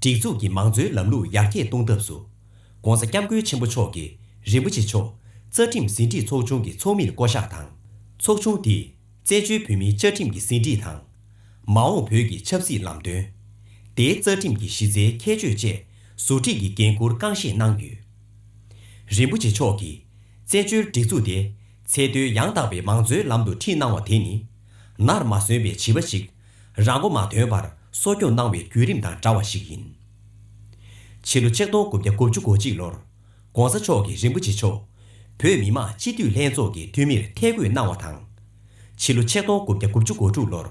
སྒྲིག་འཛུགས་ཀྱི་མང་གཙོའི་ལམ་ལུགས་ཡར་རྒྱས་གཏོང་ཐབས་སུ། ྋགོང་ས ྋསྐྱབས་མགོན་ཆེན་པོ་མཆོག་གིས་རིན་པོ་ཆེ་མཆོག་རྩ་ཁྲིམས་ཟིན་བྲིས་ཚོགས་ཆུང་གི་ཚོགས་མིར་བསྐོ་གཞག་དང། ཚོགས་ཆུང་དེས་བཙན་བྱོལ་བོད་མིའི་བཅའ་ཁྲིམས་ཀྱི་ཟིན་བྲིས་དང། མ་འོངས་བོད་ཀྱི་ཆབ་སྲིད་ལམ་སྟོན། དེའི་རྩ་ཁྲིམས་ཀྱི་གཞི་རྩའི་ཁྱད་ཆོས་བཅས་ཟུར་ཁྲིད་ཀྱི་འགན་འཁུར་རྐང་བཞེས་གནང་ཡོད། རིན་པོ་ཆེ་མཆོག་གིས་བཙན་བྱོལ་སྒྲིག་འཛུགས་དེ་ཚད་མཐོའི་ཡང་དག་པའི་མང་གཙོའི་ལམ་དུ་ཁྲིད་གནང་བ་དེ་ནི་ནར་མ་སོན་པའི་བྱིས་པ་ཞིག་རང་མགོ་མ་ཐོན་པར་གསོ་སྐྱོང་གནང་བའི་བརྒྱུད་རིམ་དང་འདྲ་བ་ཞིག་ཡིན། ཕྱི་ལོ་ཆིག་སྟོང་དགུ་བརྒྱ་དགུ་བཅུ་གོ་གཅིག་ལོར ྋགོང་ས་མཆོག་གིས་རིན་པོ་ཆེ་མཆོག་བོད་མི་མང་སྤྱི་འཐུས་ལྷན་ཚོགས་ཀྱི་འཐུས་མིར་ཐད་བསྐོས་གནང་བ་དང། ཕྱི་ལོ་ཆིག་སྟོང་དགུ་བརྒྱ་དགུ་བཅུ་གོ་དྲུག་ལོར་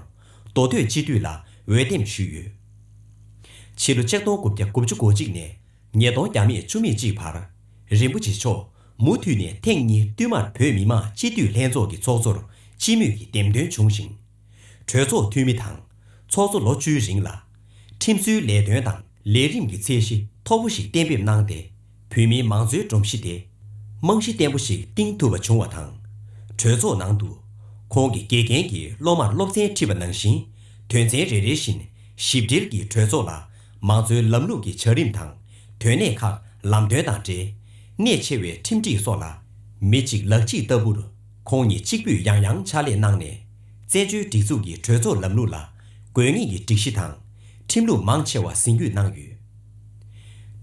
མདོ་སྟོད་སྤྱི་འཐུས་ལ་འོས་འདེམས་ཞུས་ཡོད། ཕྱི་ལོ་ཆིག་སྟོང་དགུ་བརྒྱ་དགུ་བཅུ་གོ་གཅིག་ནས་ཉིས་སྟོང་བརྒྱ་མེད་བཅུ་མེད་གཅིག་བར་རིན་པོ་ཆེ་མཆོག་མུ་མཐུད་ནས་ཐེངས་གཉིས་བསྟུད་མར་བོད་མི་མང་སྤྱི་འཐུས་ལྷན་ཚོགས་ཀྱི་ཚོགས་གཙོར་སྤྱི་མོས་ཀྱིས་འདེམས་ཐོན་བྱུང་ཞིང། གྲོས་ཚོགས་འཐུས་མི་དང་ཚོགས་གཙོ་ལོ་བཅུའི་རིང་ལ། ཁྲིམས་བཟོའི་ལས་དོན་དང་ལས་རིམ་གྱི་ཚད་གཞི་མཐོ་པོ་ཞིག་གཏན་འབེབས་གནང་སྟེ། བོད་མིའི་མང་གཙོའི་སྒྲོམ་གཞི་དེ་རྨང་གཞི་བརྟན་པོ་ཞིག་བཏིང་ཐུབ་པ་བྱུང་བ་དང། གྲོས་ཚོགས་ནང་དུ། ཁོང་གིས་དགེ་རྒན་གྱི་སློབ་མར་སློབ་ཚན་ཁྲིད་པ་ནང་བཞིན་དོན་ཚན་རེ་རེ་བཞིན་ཞིབ་བྲེལ་གྱིས་གྲོས་ཚོགས་ལ་མང་གཙོའི་ལམ་ལུགས་ཀྱི་བྱ་རིམ་དང་དོན་གནད་ཁག་ལམ་སྟོན་དང་འབྲེལ་གནད་ཆེ་བའི་ཁྲིམས་སྒྲིག་སོགས་ལ་མི་གཅིག་ལག་གཅིག་ལྟ་བུར། ཁོང་ཉིད་གཅིག་པུས་ཡང་ཡང་ཕྱག་ལས་གནང་ནས། བཙན་བྱོལ་སྒྲིག་འཛུགས་ཀྱི་གྲོས་ཚོགས་ལམ་ལུགས་ལ་དགོས་ངེས་ཀྱི་སྒྲིག་གཞི་དང། ཁྲིམས་ལུགས་མང་ཆེ་བ་ཟིན་བརྒྱུད་གནང་ཡོད།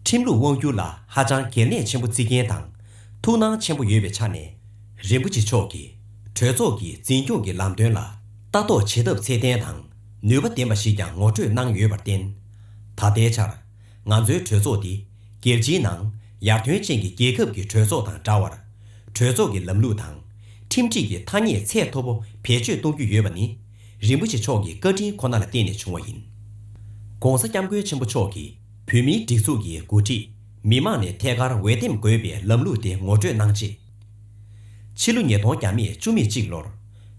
ཁྲིམས་ལུགས་དབང་བསྒྱུར་ལ་ཧ་ཅང་གལ་གནད་ཆེན་པོ་བརྩི་མཁན་དང། ཐུགས་སྣང་ཆེན་པོ་ཡོད་པའི་ཆ་ནས། རིན་པོ་ཆེ་མཆོག་གིས་གྲོས་ཚོགས་ཀྱི་འཛིན་སྐྱོང་གི་ལམ་སྟོན་ལ་ལྟ་རྟོག་བྱེད་ཐབས་ཚད་ལྡན་དང་ནུས་པ་ལྡན་པ་ཞིག་ཀྱང་ངོ་སྤྲོད་གནང་ཡོད་པར་བརྟེན། ད་ལྟའི་ཆར། ང་ཚོའི་གྲོས་ཚོགས་འདི། རྒྱལ་སྤྱིའི་ནང། ཡར་ཐོན་ཅན་གྱི་རྒྱལ་ཁབ་ཀྱི་གྲོས་ཚོགས་དང་འདྲ་བར། གྲོས་ཚོགས་ཀྱི་ལམ་ལུགས་དང། ཁྲིམས་སྒྲིག་གི་ཐ་སྙད་ཚད་མཐོ་པོ་བེད་སྤྱོད་གཏོང་རྒྱུ་ཡོད་པ་ནི། རིན་པོ་ཆེ་མཆོག་གི་བཀའ་དྲིན་ཁོ་ན་ལ་བརྟེན་ནས་བྱུང་བ་ཡིན། ྋགོང་ས ྋསྐྱབས་མགོན་ཆེན་པོ་མཆོག་གིས་བོད་མིའི་སྒྲིག་འཛུགས་ཀྱི་འགོ་ཁྲིད་མི་དམངས་ནས་ཐད་ཀར་འོས་འདེམས་དགོས་པའི་ལམ་ལུགས་དེ་ངོ་སྤྲོད་གནང་རྗེས། ཕྱི་ལོ་ཉིས་སྟོང་གྱ་མེད་བཅུ་མེད་གཅིག་ལོར།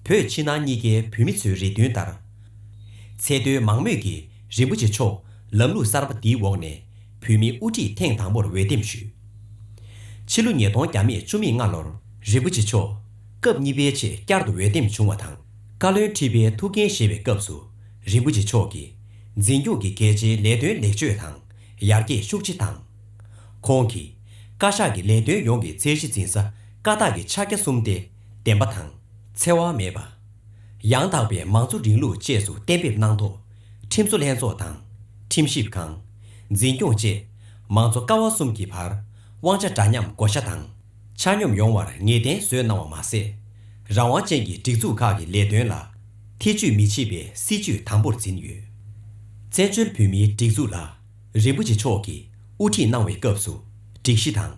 བོད་ཕྱི་ནང་གཉིས་ཀའི་བོད་མི་ཚོའི་རེ་འདུན་ལྟར། ཚད་མཐོའི་མང་མོས་ཀྱིས། རིན་པོ་ཆེ་མཆོག་ལམ་ལུགས་གསར་པ་འདིའི་འོག་ནས་བོད་མིའི་དབུ་ཁྲིད་ཐེངས་དང་པོར་འོས་འདེམས་ཞུས། ཕྱི་ལོ་ཉིས་སྟོང་གྱ་མེད་བཅུ་མིག་ལྔ་ལོར་རིན་པོ་ཆེ་མཆོག་སྐབས་གཉིས་པའི་ཆེད་བསྐྱར་དུ་འོས་འདེམས་བྱུང་བ་དང་བཀའ་བློན་ཁྲི་པའི་ཐུགས་འགན་བཞེས་པའི་སྐབས་སུ་རིན་པོ་ཆེ་མཆོག་གིས་འཛིན་སྐྱོང་གི་གལ་ཆེའི་ལས་དོན་ལེགས་བཅོས་དང་ཡར་རྒྱས་ཤུགས་ཆེ་བཏང། ཁོང་གིས་བཀའ་ཤག་གི་ལས་དོན་ཡོངས་ཀྱི་ཚད་གཞི་འཛིན་ས་བཀའ་རྟགས་ཀྱི་ཕྱག་རྒྱ་གསུམ་སྟེ་བདེན་པ་དང་འཚེ་བ་མེད་པ། ཡང་དག་པའི་མང་གཙོ་རིང་ལུགས་བཅས་སུ་གཏན་འབེབས་གནང་ཐོག་ཁྲིམས་བཟོ་ལྷན་ཚོགས་དང། ཁྲིམས་ཞིབ་ཁང། འཛིན་སྐྱོང་བཅས་མང་གཙོ་ཀ་བ་གསུམ་གྱི་བར་དབང་ཆ་འདྲ་མཉམ་བགོ་བཤའ་དང་ཆ་སྙོམས་ཡོང་བར་ངེས་གཏན་བཟོས་གནང་བ་མ་ཟད། རང་དབང་ཅན་གྱི་སྒྲིག་འཛུགས་ཁག་གི་ལས་དོན་ལ་ཐེ་ཇུས་མི་བྱེད་པའི་སྲིད་ཇུས་དམ་པོར་འཛིན་ཡོད། བཙན་བྱོལ་བོད་མིའི་སྒྲིག་འཛུགས་ལ་རིན་པོ་ཆེ་མཆོག་གིས་དབུ་ཁྲིད་གནང་བའི་སྐབས་སུ་སྒྲིག་གཞི་དང།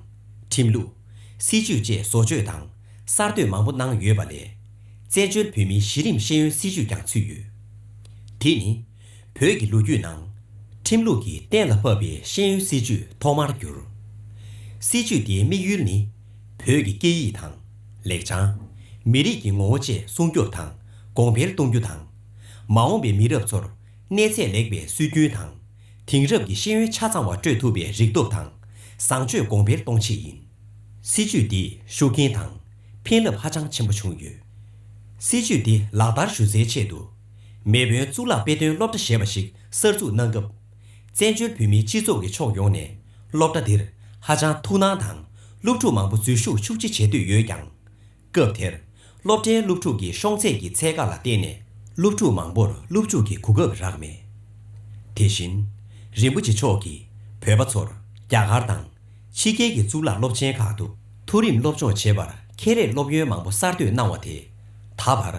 ཁྲིམས་ལུགས། སྲིད་ཇུས་བཅས་བཟོ་བཅོས་དང་གསར་གཏོད་མང་པོ་གནང་ཡོད་པ་ལས། བཙན་བྱོལ་བོད་མིའི་གཞི་རིམ་ཤེས་ཡོན་སྲིད་བྱུས་ཀྱང་ཚུད་ཡོད། དེ་ནི། བོད་ཀྱི་ལོ་རྒྱུས་ནང། ཁྲིམས་ལུགས་ཀྱིས་གཏན་ལ་ཕབ་པའི་ཤེས་ཡོན་སྲིད་བྱུས་ཐོག་མར་གྱུར། སྲིད་བྱུས་དེའི་དམིགས་ཡུལ་ནི། བོད་ཀྱི་སྐད་ཡིག་དང། ལེགས་བྱང། མི་རིགས་ཀྱི་ངོ་བོ་བཅས་སྲུང་སྐྱོབ་དང་གོང་འཕེལ་གཏོང་རྒྱུ་དང། མ་འོངས་པའི་མི་རབས་ཚོར་གནས་ཚད་ལེགས་པའི་སྲོལ་རྒྱུན་དང། དེང་རབས་ཀྱི་ཤེས་ཡོན་ཆ་ཚང་བ་སྤྲོད་ཐུབ་པའི་རིག་སྟོབས་དང་བཟང་སྤྱོད་གོང་འཕེལ་གཏོང་ཆེད་ཡིན། སྲིད་ཇུས་འདི་ཤུགས་རྐྱེན་དང་ཕན་རླབས་ཧ་ཅང་ཆེན་པོ་བྱུང་ཡོད། སྲིད་ཇུས་འདི་ལག་བསྟར་ཞུ་སའི་ཆེད་དུ། མེས་དབོན་གཙུག་ལག་དཔེ་སྟོན་སློབ་གྲྭ་ཞེས་པ་ཞིག་གསར་འཛུགས་གནང་སྐབས། བཙན་བྱོལ་བོད་མིའི་སྤྱི་ཚོགས་ཀྱི་ཕྱོགས་ཡོངས་ནས་སློབ་གྲྭ་འདིར་ཧ་ཅང་ཐུགས་སྣང་དང་སློབ་ཕྲུག་མང་པོ་འཛུལ་ཞུགས་ཤུགས་ཆེ་བྱེད་འདོད་ཡོད་ཀྱང། སྐབས་དེར། སློབ་གྲྭའི་སློབ་ཕྲུག་གི་ཤོང་ཚད་ཀྱི་ཚད་བཀག་ལ་བརྟེན་ནས་སློབ་ཕྲུག་མང་པོར་སློབ་འཇུག་གི་གོ་སྐབས་རག་མེད། དེ་བཞིན། རིན་པོ་ཆེ་མཆོག་གིས་བོད་པ་ཚོར་རྒྱ་གར་དང། ཕྱི་རྒྱལ་གྱི་གཙུག་ལག་སློབ་ཆེན་ཁག་ཏུ་མཐོ་རིམ་སློབ་སྦྱོང་བྱེད་པར་ཁེ་རེས་སློབ་ཡོན་མང་པོ་གསར་གཏོད་གནང་བ་དེས། ད་བར།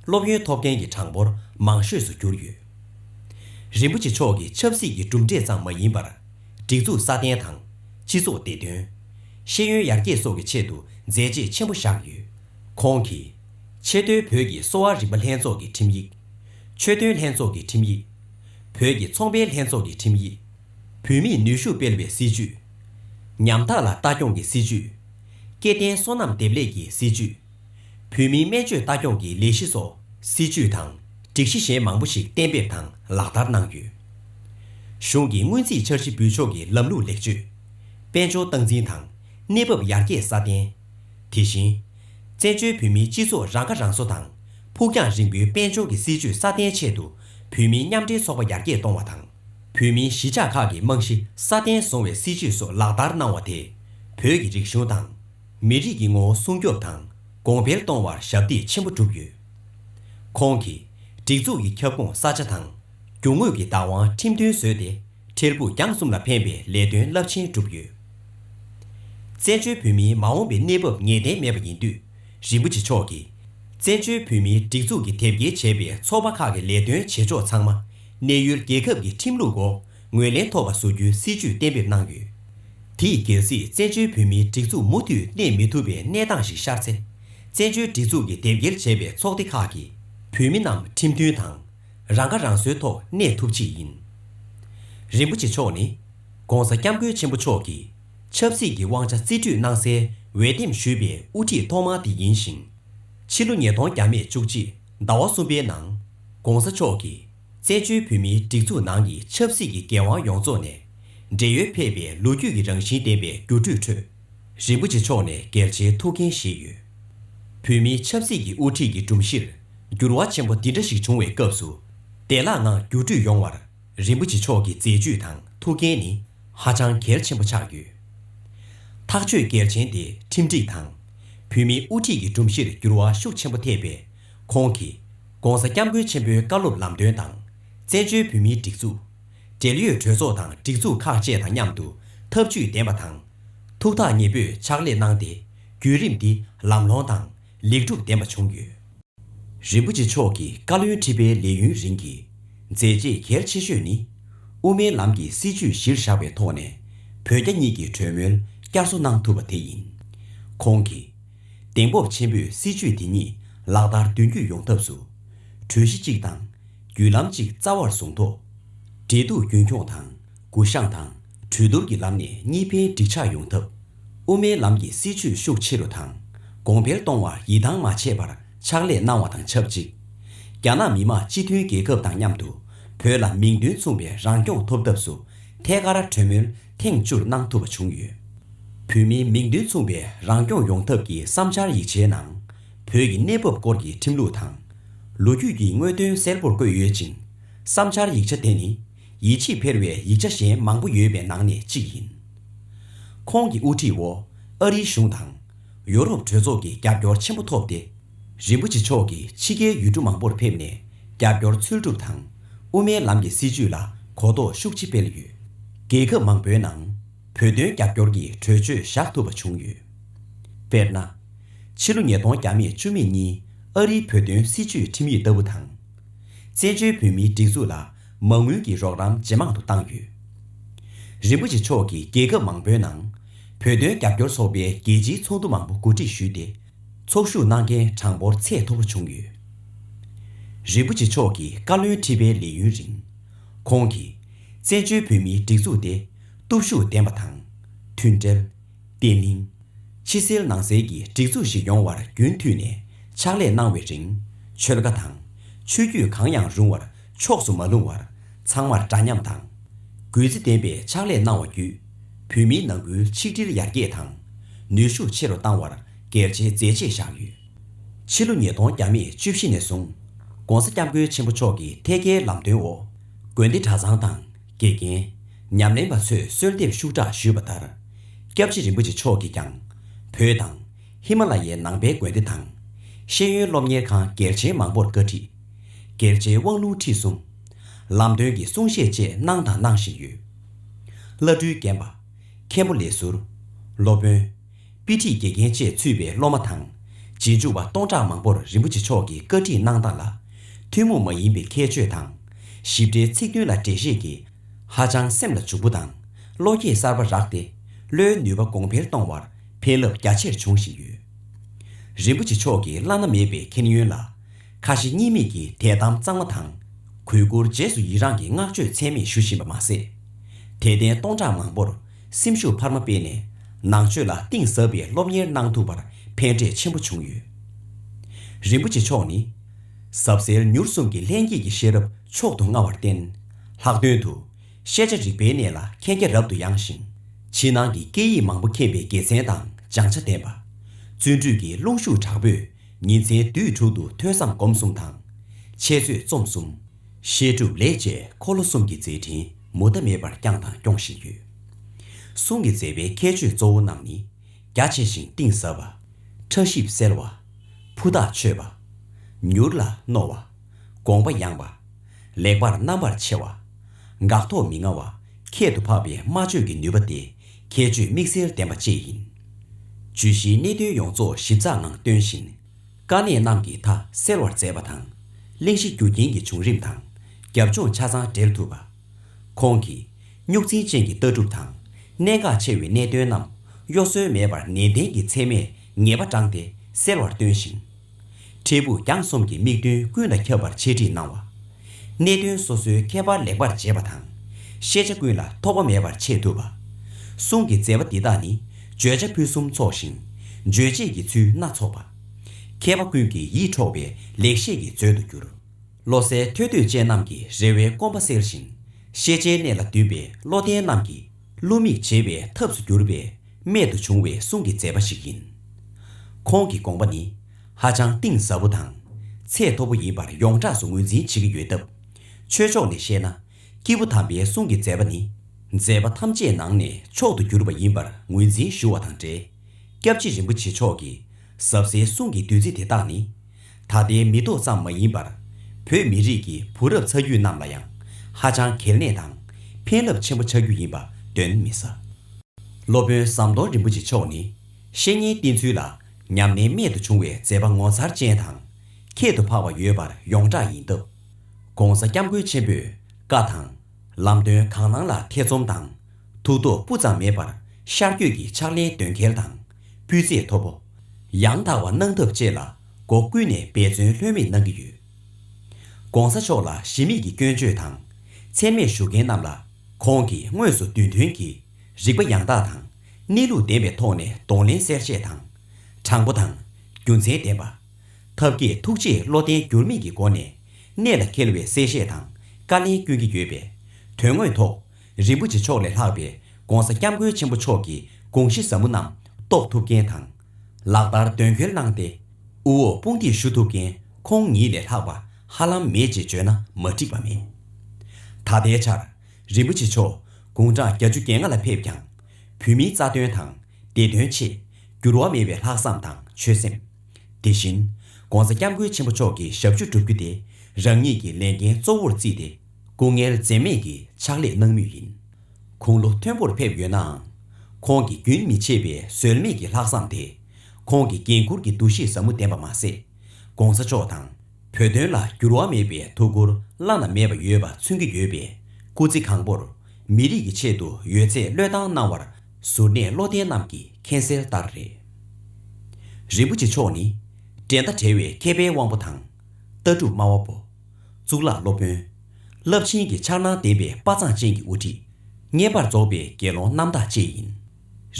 སློབ་ཡོན་ཐོབ་མཁན་གྱི་གྲངས་འབོར་མང་ཤོས་སུ་གྱུར་ཡོད། རིན་པོ་ཆེ་མཆོག་གི་ཆབ་སྲིད་ཀྱི་གྲུབ་འབྲས་ཙམ་མ་ཡིན་པར། སྒྲིག་འཛུགས་སྲ་བརྟན་དང། སྤྱི་ཚོགས་བདེ་དོན། ཤེས་ཡོན་ཡར་རྒྱས་སོགས་ཀྱི་ཆེད་དུ་མཛད་རྗེས་ཆེན་པོ་བཞག་ཡོད། ཁོང་གིས། ཆེས་མཐོའི་བོད་ཀྱི་གསོ་བ་རིག་པ་ལྷན་ཚོགས་ཀྱི་ཁྲིམས་ཡིག། ཆོས་དོན་ལྷན་ཚོགས་ཀྱི་ཁྲིམས་ཡིག། བོད་ཀྱི་ཚོང་པའི་ལྷན་ཚོགས་ཀྱི་ཁྲིམས་ཡིག། བུད་མེད་ནུས་ཤུགས་སྤེལ་བའི་སྲིད་ཇུས། ཉམ་ཐག་ལ་ལྟ་སྐྱོང་གི་སྲིད་ཇུས། སྐྱེ་ལྡན་སོ་ནམ་འདེབས་ལས་ཀྱི་སྲིད་ཇུས། བོད་མིའི་སྨན་བཅོས་ལྟ་སྐྱོང་གི་ལས་གཞི་སོགས་སྲིད་ཇུས་དང་སྒྲིག་གཞི་གཞན་མང་པོ་ཞིག་གཏན་འབེབས་དང་ལག་བསྟར་གནང་ཡོད། གཞུང་གི་སྔོན་རྩིས་འཆར་གཞི་འབུལ་ཕྱོགས་ཀྱི་ལམ་ལུགས་ལེགས་བཅོས། དཔལ་འབྱོར་སྟངས་འཛིན་དང་གནས་བབ་ཡར་རྒྱས་སྲ་བརྟན། དེ་བཞིན། བཙན་བྱོལ་བོད་མིའི་སྤྱི་ཚོགས་རང་ཁ་རང་གསོ་དང་ཕུགས་རྒྱང་རིང་པོའི་དཔལ་འབྱོར་གྱི་སྲིད་ཇུས་སྲ་བརྟན་ཆེད་དུ་བོད་མིའི་མཉམ་འབྲེལ་ཚོགས་པ་ཡར་རྒྱས་གཏོང་བ་དང། བོད་མིའི་གཞིས་ཆགས་ཁག་གི་རྨང་གཞི་སྲ་བརྟན་བཟུང་བའི་སྲིད་ཇུས་སོགས་ལག་བསྟར་གནང་བ་དེས་བོད་ཀྱི་རིག་གཞུང་དང། མི་རིགས་ཀྱི་ངོ་བོ་སྲུང་སྐྱོབ་དང་གོང་འཕེལ་གཏོང་བར་ཞབས་འདེགས་ཆེན་པོ་བསྒྲུབས་ཡོད། ཁོང་གིས་སྒྲིག་འཛུགས་ཀྱི་ཁྱབ་ཁོངས་ས་ཆ་དང་རྒྱུ་དངོས་ཀྱི་བདག་དབང་ཁྲིམས་མཐུན་བཟོས་ཏེ་འཕྲལ་ཕུགས་རྒྱང་གསུམ་ལ་ཕན་པའི་ལས་དོན་རླབས་ཆེན་བསྒྲུབས་ཡོད། བཙན་བྱོལ་བོད་མིའི་མ་འོངས་པའི་གནས་བབ་ངེས་གཏན་མེད་པ་ཡིན་དུས་རིན་པོ་ཆེ་མཆོག་གིས་བཙན་བྱོལ་བོད་མིའི་སྒྲིག་འཛུགས་ཀྱི་དེབ་སྐྱེལ་བྱས་པའི་ཚོགས་པ་ཁག་གི་ལས་དོན་བྱེད་ཕྱོགས་ཚང་མ་གནས་ཡུལ་རྒྱལ་ཁབ་ཀྱི་ཁྲིམས་ལུགས་སྒོ་ངོས་ལེན་ཐོབ་པ་བཟོ་རྒྱུའི་སྲིད་ཇུས་གཏན་འབེབས་གནང་ཡོད། དེས་རྒྱལ་སྲིད་བཙན་བྱོལ་བོད་མིའི་སྒྲིག་འཛུགས་མུ་མཐུད་གནས་མི་ཐུབ་པའི་གནས་སྟངས་ཤིག་ཤར་ཚེ། བཙན་བྱོལ་སྒྲིག་འཛུགས་ཀྱི་དེབ་སྐྱེལ་བྱས་པའི་ཚོགས་སྡེ་ཁག་གི་བོད་མི་རྣམས་ཁྲིམས་མཐུན་དང། རང་ཁ་རང་གསོའི་ཐོག་གནས་ཐུབ་ཆེད་ཡིན། རིན་པོ་ཆེ་མཆོག་ནི། ྋགོང་ས ྋསྐྱབས་མགོན་ཆེན་པོ་མཆོག་གིས་ཆབ་སྲིད་ཀྱི་དབང་ཆ་རྩིས་སྤྲོད་གནང་སའི་འོས་འདེམས་ཞུས་པའི་དབུ་ཁྲིད་ཐོག་མ་དེ་ཡིན་ཞིང། ཕྱི་ལོ་ཉིས་སྟོང་བརྒྱ་མེད་བཅུ་གཅིག་ཟླ་བ་གསུམ་པའི་ནང ྋགོང་ས་མཆོག་གིས། བཙན་བྱོལ་བོད་མིའི་སྒྲིག་འཛུགས་ནང་གི་ཆབ་སྲིད་ཀྱི་འགན་དབང་ཡོངས་རྫོགས་ནས། བགྲེས་ཡོལ་ཕེབས་པའི་ལོ་རྒྱུས་ཀྱི་རང་བཞིན་ལྡན་པའི་སྒྱུར་སྤྲོད་ཁྲོད། རིན་པོ་ཆེ་མཆོག་ནས་གལ་ཆེའི་ཐུགས་འགན་བཞེས་ཡོད། བོད་མིའི་ཆབ་སྲིད་ཀྱི་དབུ་ཁྲིད་ཀྱི་སྒྲོམ་གཞིར་འགྱུར་བ་ཆེན་པོ་འདི་འདྲ་ཞིག་བྱུང་བའི་སྐབས་སུ། བདེ་བླག་ངང་སྒྱུར་སྤྲོད་ཡོང་བར་རིན་པོ་ཆེ་མཆོག་གི་མཛད་ཇུས་དང་ཐུགས་འགན་ནི་ཧ་ཅང་གལ་ཆེན་པོ་ཆགས་ཡོད། ཐག་གཅོད་གལ་ཆེན་དེ་ཁྲིམས་སྒྲིག་དང། བོད་མིའི་དབུ་ཁྲིད་ཀྱི་སྒྲོམ་གཞིར་འགྱུར་བ་ཤུགས་ཆེན་པོ་ཐེབས་པའི་ཁོང་གིས ྋགོང་ས ྋསྐྱབས་མགོན་ཆེན་པོའི་བཀའ་སློབ་ལམ་སྟོན་དང། བཙན་བྱོལ་བོད་མིའི་སྒྲིག་འཛུགས། འབྲེལ་ཡོད་གྲོས་ཚོགས་དང་སྒྲིག་འཛུགས་ཁག་བཅས་དང་མཉམ་དུ་ཐབས་ཇུས་འདེམས་པ་དང། ཐུགས་ཐག་ཉེ་པོས་ཕྱག་ལས་གནང་སྟེ་བརྒྱུད་རིམ་འདི་ལམ་ལྷོང་དང་ལེགས་འགྲུབ་ལྡན་པ་བྱུང་ཡོད། རིན་པོ་ཆེ་མཆོག་གི་བཀའ་བློན་ཁྲི་པའི་ལས་ཡུན་རིང་གི་མཛད་རྗེས་གལ་ཆེ་ཤོས་ནི། དབུ་མའི་ལམ་གྱི་སྲིད་བྱུས་གཞིར་བཞག་པའི་ཐོག་ནས་བོད་རྒྱ་གཉིས་ཀྱི་གྲོས་མོལ་བསྐྱར་གསོ་གནང་ཐུབ་པ་དེ་ཡིན། ཁོང་གིས། གདེང་སྤོབས་ཆེན་པོས་སྲིད་ཇུས་དེ་ཉིད་ལག་བསྟར་མདུན་སྐྱོད་ཡོང་ཐབས་སུ། གྲོས་གཞི་གཅིག་དང། བརྒྱུད་ལམ་གཅིག་རྩ་བར་བཟུང་ཐོག། འབྲེལ་གཏུག་རྒྱུན་འཁྱོངས་དང་གུ་བཤངས་དང་གྲོས་བསྡུར་གྱི་ལམ་ནས་གཉིས་ཕན་འགྲིག་ཆགས་ཡོང་ཐབས། དབུ་མའི་ལམ་གྱི་སྲིད་ཇུས་ཤུགས་ཆེ་རུ་དང་གོང་འཕེལ་གཏོང་བར་ཡིད་ཐང་མ་ཆད་པར་ཕྱག་ལས་གནང་བ་དང་ཆབས་ཅིག་རྒྱ་ནག་མི་དམངས་སྤྱི་མཐུན་རྒྱལ་ཁབ་དང་མཉམ་དུ་བོད་ལ་མིང་དོན་མཚུངས་པའི་རང་སྐྱོང་ཐོབ་ཐབས་སུ་ཐད་ཀར་གྲོས་མོལ་ཐེངས་བཅུར་གནང་ཐུབ་པ་བྱུང་ཡོད། བོད་མིའི་མིང་དོན་མཚུངས་པའི་རང་སྐྱོང་ཡོང་ཐབས་ཀྱི་བསམ་འཆར་ཡིག་ཆའི་ནང། བོད་ཀྱི་གནས་བབ་སྐོར་གྱི་ཁྲིམས་ལུགས་དང། ལོ་རྒྱུས་ཀྱི་དངོས་དོན་གསལ་པོར་བཀོད་ཡོད་ཅིང། བསམ་འཆར་ཡིག་ཆ་དེ་ནི་ཡིད་ཆེས་འཕེར་བའི་ཡིག་ཆ་གཞན་མང་པོ་ཡོད་པའི་ནང་ནས་གཅིག་ཡིན། ཁོང་གི་དབུ་ཁྲིད་འོག་ཨ་རིའི་གཞུང་དང། ཡོ་རོབ་གྲོས་ཚོགས་ཀྱི་རྒྱབ་སྐྱོར་ཆེན་པོ་ཐོབ་སྟེ། རིན་པོ་ཆེ་མཆོག་གིས་ཕྱི་རྒྱལ་ཡུལ་གྲུ་མང་པོར་ཕེབས་ནས་རྒྱབ་སྐྱོར་འཚོལ་སྒྲུབ་དང། དབུ་མའི་ལམ་གྱི་སྲིད་བྱུས་ལ་གོ་རྟོགས་ཤུགས་ཆེ་སྤེལ་ཡོད། རྒྱལ་ཁབ་མང་པོའི་ནང་བོད་དོན་རྒྱབ་སྐྱོར་གྱི་གྲོས་ཆོད་བཞག་ཐུབ་པ་བྱུང་ཡོད། དཔེར་ན། ཕྱི་ལོ་ཉིས་སྟོང་བརྒྱ་མེད་བཅུ་མེད་གཉིས་ཨ་རིའི་བོད་དོན་སྲིད་བྱུས་ཁྲིམས་ཡིག་ལྟ་བུ་དང། བཙན་བྱོལ་བོད་མིའི་སྒྲིག་འཛུགས་ལ་མ་དངུལ་གྱི་རོགས་རམ་ཇེ་མང་དུ་བཏང་ཡོད། རིན་པོ་ཆེ་མཆོག་གིས་རྒྱལ་ཁབ་མང་པོའི་ནང། བོད་དོན་རྒྱབ་སྐྱོར་ཚོགས་པའི་རྒྱལ་སྤྱིའི་ཚོགས་འདུ་མང་པོ་གོ་སྒྲིག་ཞུས་ཏེ། ཚོགས་ཞུགས་གནང་མཁན་གྲངས་འབོར་ཚད་མཐོ་པོ་བྱུང་ཡོད། རིན་པོ་ཆེ་མཆོག་གིས་བཀའ་བློན་ཁྲི་པའི་ལས་ཡུན་རིང། ཁོང་གིས། བཙན་བྱོལ་བོད་མིའི་སྒྲིག་འཛུགས་དེ་སྟོབས་ཤུགས་ལྡན་པ་དང། མཐུན་སྒྲིལ། བརྟན་བརླིང། ཕྱི་གསལ་ནང་གསལ་གྱི་སྒྲིག་འཛུགས་ཤིག་ཡོང་བར་རྒྱུན་མཐུད་ནས་ཕྱག་ལས་གནང་བའི་རིང། ཆོལ་ཁ་དང། ཆོས་བརྒྱུད་གང་ཡང་རུང་བར་ཕྱོགས་སུ་མ་ལྷུང་བར་ཚང་མར་འདྲ་མཉམ་དང། གུས་བརྩི་ལྡན་པའི་ཕྱག་ལས་གནང་བ་བརྒྱུད། བོད་མིའི་ནང་ཁུལ་ཆིག་སྒྲིལ་ཡར་རྒྱས་དང། ནུས་ཤུགས་ཆེ་རུ་བཏང་བར་གལ་ཆེའི་མཛད་རྗེས་བཞག་ཡོད། ཕྱི་ལོ་ཉིས་སྟོང་གྱ་མེད་བཅུ་བཞི་ནས་བཟུང། ྋགོང་ས ྋསྐྱབས་མགོན་ཆེན་པོ་མཆོག་གི་ཐད་ཀའི་ལམ་སྟོན་འོག་དགོན་སྡེ་གྲྭ་ཚང་དང་དགེ་རྒན། ཉམས་ལེན་པ་ཚོས་གསོལ་འདེབས་ཤུགས་དྲག་ཞུས་པ་ལྟར། ྋསྐྱབས་རྗེ་རིན་པོ་ཆེ་མཆོག་གིས་ཀྱང་བོད་དང། ཧི་མ་ལ་ཡའི་ནང་པའི་དགོན་སྡེ་དང། ཤེས་ཡོན་སློབ་གཉེར་ཁང་གལ་ཆེན་མང་པོར་བཀའ་ཁྲི། གལ་ཆེའི་དབང་ལུང་ཁྲིད་གསུམ། ལམ་སྟོན་གྱི་གསུང་བཤད་བཅས་གནང་དང་གནང་བཞིན་ཡོད། བླ་སྤྲུལ་རྒན་པ། མཁན་པོ་ལས་ཟུར། སློབ་དཔོན། དཔེ་ཁྲིད་དགེ་རྒན་བཅས་ཚུད་པའི་སློབ་མ་དང། རྗེས་འཇུག་པ་སྟོང་ཕྲག་མང་པོར་རིན་པོ་ཆེ་མཆོག་གི་བཀའ་ཁྲིད་གནང་སྟངས་ལ། ཐུན་མོང་མ་ཡིན་པའི་ཁྱད་ཆོས་དང། ཞིབ་ཕྲའི་ཚིག་དོན་ལ་འགྲེལ་བཤད་ཀྱིས། ཧ་ཅང་སེམས་ལ་འཇུག་པོ་དང་བློ་སྐྱེད་གསར་པ་རག་སྟེ། བློའི་ནུས་པ་གོང་འཕེལ་གཏོང་བར་ཕན་རླབས་རྒྱ་ཆེར་འབྱུང་བཞིན་ཡོད། རིན་པོ་ཆེ་མཆོག་གི་བླ་ན་མེད་པའི་མཁྱེན་ཡོན་ལ། ཁ་ཞེ་གཉིས་མེད་ཀྱིས་དད་དམ་གཙང་མ་དང། གུས་བཀུར་རྗེས་སུ་ཡི་རངས་ཀྱི་བསྔགས་བརྗོད་ཚད་མེད་ཞུ་བཞིན་པ་མ་ཟད། དད་ལྡན་སྟོང་ཕྲག་མང་པོར་སེམས་ཤུགས་འཕར་མ་སྤེལ་ནས་ནང་ཆོས་ལ་གཏིང་ཟབ་པའི་སློབ་གཉེར་གནང་ཐུབ་པར་ཕན་འབྲས་ཆེན་པོ་བྱུང་ཡོད། རིན་པོ་ཆེ་མཆོག་ནི། ཟབ་གསལ་མྱུར་གསུམ་གྱི་ལྷན་སྐྱེས་ཀྱི་ཤེས་རབ་མཆོག་ཏུ་མངའ་བར་བརྟེན། ལྷག་དོན་དུ། ཤེས་བྱ་རིག་པའི་གནས་ལ་མཁྱེན་རྒྱ་རབ་ཏུ་ཡངས་ཤིང། ཕྱི་ནང་གི་སྐད་ཡིག་མང་པོ་མཁྱེན་པའི་དགེ་མཚན་དང་སྦྱང་བྱ་ལྡན་པ། བརྩོན་འགྲུས་ཀྱི་རླུང་ཤུགས་དྲག་པོས་ཉིན་མཚན་དུས་དྲུག་ཏུ་ཐོས་བསམ་སྒོམ་གསུམ་དང། འཆད་རྩོད་རྩོམ་གསུམ། བཤད་སྒྲུབ་ལས་བཅས་འཁོར་ལོ་གསུམ་གྱི་མཛད་འཕྲིན་མུ་མཐའ་མེད་པར་བསྐྱངས་དང་སྐྱོང་བཞིན་ཡོད། གསུང་གི་མཛད་པའི་ཁྱད་ཆོས་གཙོ་བོ་རྣམས་ནི། རྒྱ་ཆེ་ཞིང་གཏིང་ཟབ་པ། ཕྲ་ཞིབ་གསལ་བ། ཕུ་ཐག་ཆོད་པ། མྱུར་ལ་རྣོ་བ། དགོངས་པ་ཡངས་པ། ལེགས་པར་རྣམ་པར་ཕྱེ་བ། འགག་ཐོག་མི་མངའ་བ་ཁྱད་དུ་འཕགས་པའི་སྨྲ་བརྗོད་ཀྱི་ནུས་པ་སྟེ་ཁྱད་ཆོས་དམིགས་བསལ་ལྡན་པ་བཅས་ཡིན། བརྗོད་གཞིའི་གནད་དོན་ཡོངས་རྫོགས་ཞིབ་ཚགས་ངང་སྟོན་བཞིན། དཀའ་གནད་རྣམས་ཀྱི་མཐའ་སེལ་བར་མཛད་པ་དང། གླེང་གཞི་རྒྱུ་རྐྱེན་གྱི་བྱུང་རིམ་དང་རྒྱབ་ལྗོངས་ཆ་ཚང་འགྲེལ་ཐུབ་པ། ཁོང་གིས་རྙོག་འཛིང་ཅན་གྱི་ལྟ་གྲུབ་དང་གནད་འགག་ཆེ་བའི་གནད་དོན་རྣམས་གཡོ་ཟོལ་མེད་པར་ནན་ཏན་གྱིས་ཚད་མས་ངེས་པ་བགྲངས་ཏེ་སེལ་བར་སྟོན་ཞིང། འཕྲལ་ཕུགས་རྒྱང་གསུམ་གྱི་དམིགས་འདུན་ཀུན་ལ་ཁྱབ་པར་འཆད་ཁྲིད་གནང་བ། གནད་དོན་སོ་སོའི་ཁྱད་པར་ལེགས་པར་འབྱེད་པ་དང། ཤེས་བྱ་ཀུན་ལ་ཐོགས་པ་མེད་པར་འཆད་ཐུབ་པ། གསུང་གི་མཛད་པ་འདི་དག་ནི་བརྗོད་བྱ་ཕུན་སུམ་ཚོགས་ཤིང། རྗོད་བྱེད་ཀྱི་ཚུལ་སྣ་ཚོགས་པ། མཁས་པ་ཀུན་གྱི་ཡིད་འཕྲོག་པའི་ལེགས་བཤད་ཀྱི་མཛོད་དུ་གྱུར། བློ་གསལ་ཐོས་འདོད་ཅན་རྣམས་ཀྱི་རེ་བའི་སྐོམ་པ་སེལ་ཞིང། ཤེས་བྱའི་གནས་ལ་འདུན་པའི་བློ་ལྡན་རྣམས་ཀྱི་བསླུ་མེད་བྱེད་པའི་ཐབས་སུ་གྱུར་པའི་རྨད་དུ་བྱུང་བའི་གསུང་གི་མཛད་པ་ཞིག་ཡིན། ཁོང་གི་དགོངས་པ་ནི་ཧ་ཅང་གཏིང་ཟབ་པོ་དང་ཚད་མཐོ་པོ་ཡིན་པར་ཡོངས་གྲགས་སུ་ངོས་འཛིན་བྱེད་ཀྱི་ཡོད་སྟབས། ཆོས་ཕྱོགས་ནས་བཤད་ན་སྐྱེས་བུ་དམ་པའི་གསུང་གི་མཛད་པ་ནི་མཛད་པ་ཐམས་ཅད་ནང་ནས་མཆོག་ཏུ་གྱུར་པ་ཡིན་པར་ངོས་འཛིན་ཞུ་བ་དང་འབྲེལ། སྐྱབས་རྗེ་རིན་པོ་ཆེ་མཆོག་གིས་ཟབ་གསལ་གསུང་གི་བདུད་རྩི་དེ་དག་ནི། ད་ལྟའི་མི་ཐོག་ཙམ་མ་ཡིན་པར། བོད་མི་རིགས་ཀྱི་བུ་རབས་ཚ་རྒྱུད་རྣམས་ལ་ཡང། ཧ་ཅང་གལ་གནད་དང་ཕན་རླབས་ཆེན་པོ་ཆགས་རྒྱུ་ཡིན་པ་གདོན་མི་ཟ། སློབ་དཔོན་ཟམ་གདོང་རིན་པོ་ཆེ་མཆོག་ནི། བཤེས་གཉེན་བསྟེན་ཚུལ་ལ་ཉམས་ལེན་རྨད་དུ་བྱུང་བའི་མཛད་པ་ངོ་མཚར་ཅན་དང། ཁྱད་དུ་འཕགས་པ་ཡོད་པར་ཡོངས་གྲགས་ཡིན་སྟབས། ྋགོང་ས་སྐྱབས་མགོན་ཆེན་པོས་བཀའ་དང། ལམ་སྟོན་གང་གནང་ལ་ཐེ་ཚོམ་དང་ཐུགས་དོགས་སྤུ་ཙམ་མེད་པར་ཤར་བསྐྱོད་ཀྱི་ཕྱག་ལེན་འདོན་གལ་དང། སྤུས་ཚད་མཐོ་པོ། ཡང་དག་པ་གནང་ཐབས་བཅས་ལ་སྒོ་ཀུན་ནས་འབད་བརྩོན་ལྷོད་མེད་གནང་གི་ཡོད། ྋགོང་ས་མཆོག་ལ་གཞི་མེད་ཀྱི་སྐྱོན་བརྗོད་དང་ཚད་མེད་ཞུ་མཁན་རྣམས་ལ་ཁོང་གིས་དངོས་སུ་དུས་མཐུན་གྱིས་རིག་པ་ཡང་དག་དང་གནས་ལུགས་ལྡན་པའི་ཐོག་ནས་གདོང་ལེན་གསལ་བཤད་དང། དྲང་པོ་དང། རྒྱུ་མཚན་ལྡན་པ། ཐབས་མཁས་ཐུགས་རྗེས་བློ་བརྟན་འགྱུར་མེད་ཀྱི་སྒོ་ནས་གནད་ལ་འཁེལ་བའི་གསལ་བཤད་དང་བཀའ་ལན་བསྐྱོན་གྱི་ཡོད་པས་དོན་དངོས་ཐོག་རིན་པོ་ཆེ་མཆོག་ལས་ལྷག་པའི ྋགོང་ས ྋསྐྱབས་མགོན་ཆེན་པོ་མཆོག་གི་དགོངས་གཞི་ཟབ་མོ་རྣམས་རྟོགས་ཐུབ་མཁན་དང། ལག་བསྟར་དོན་འཁྱོལ་གནང་སྟེ་དབུ་འོག་དཔུང་འདེགས་ཞུ་ཐུབ་མཁན་ཁོང་ཉིད་ལས་ལྷག་པ་ཧ་ལམ་མེད་ཅེས་བརྗོད་ན་མ་འགྲིག་པ་མེད། ད་ལྟའི་ཆར་རིན་པོ་ཆེ་མཆོག་དགུང་གྲངས་གྱ་བཅུ་གྱ་ལྔ་ལ་ཕེབས་ཀྱང། བོད་མིའི་རྩ་དོན་དང་བདེ་དོན་ཆེད་འགྱུར་བ་མེད་པའི་ལྷག་བསམ་དང་ཆོད་སེམས། དེ་བཞིན ྋགོང་ས ྋསྐྱབས་མགོན་ཆེན་པོ་མཆོག་གི་ཞབས་ཞུ་བསྒྲུབ་རྒྱུ་དེ་རང་ཉིད་ཀྱི་ལས་འགན་གཙོ་བོར་བརྩིས་ཏེ། སྐུ་ངལ་འཛེམས་མེད་ཀྱི་ཕྱག་ལས་གནང་མུས་ཡིན། དགུང་ལོ་མཐོན་པོར་ཕེབས་ཡོད་ནའང། ཁོང་གི་རྒྱུན་མི་ཆད་པའི་ཟོལ་མེད་ཀྱི་ལྷག་བསམ་དེས། ཁོང་གི་འགན་འཁུར་གྱི་འདུ་ཤེས་ཟབ་མོ་ལྡན་པ་མ་ཟད། ྋགོང་ས་མཆོག་དང་བོད་དོན་ལ་འགྱུར་བ་མེད་པའི་ཐུགས་ཁུར་བླ་ན་མེད་པ་ཡོད་པ་མཚོན་གྱི་ཡོད་པས་སྐུ་ཚེ་གང་པོར་མི་རིགས་ཀྱི་ཆེད་དུ་ཡོད་ཚད་བློས་བཏང་གནང་བར་གཟུར་གནས་བློ་ལྡན་རྣམས་ཀྱིས་མཁྱེན་གསལ་ལྟར་རེད། རིན་པོ་ཆེ་མཆོག་ནི། འགྲན་ཟླ་བྲལ་བའི་མཁས་པའི་དབང་པོ་དང། ལྟ་གྲུབ་སྨྲ་བ་པོ། གཙུག་ལག་སློབ་དཔོན། རླབས་ཆེན་གྱི་འཆར་སྣང་ལྡན་པའི་དཔའ་མཛངས་ཅན་གྱི་དབུ་ཁྲིད། བརྙེས་པར་རྫོགས་པའི་དགེ་སློང་རྣམ་དག་བཅས་ཡིན།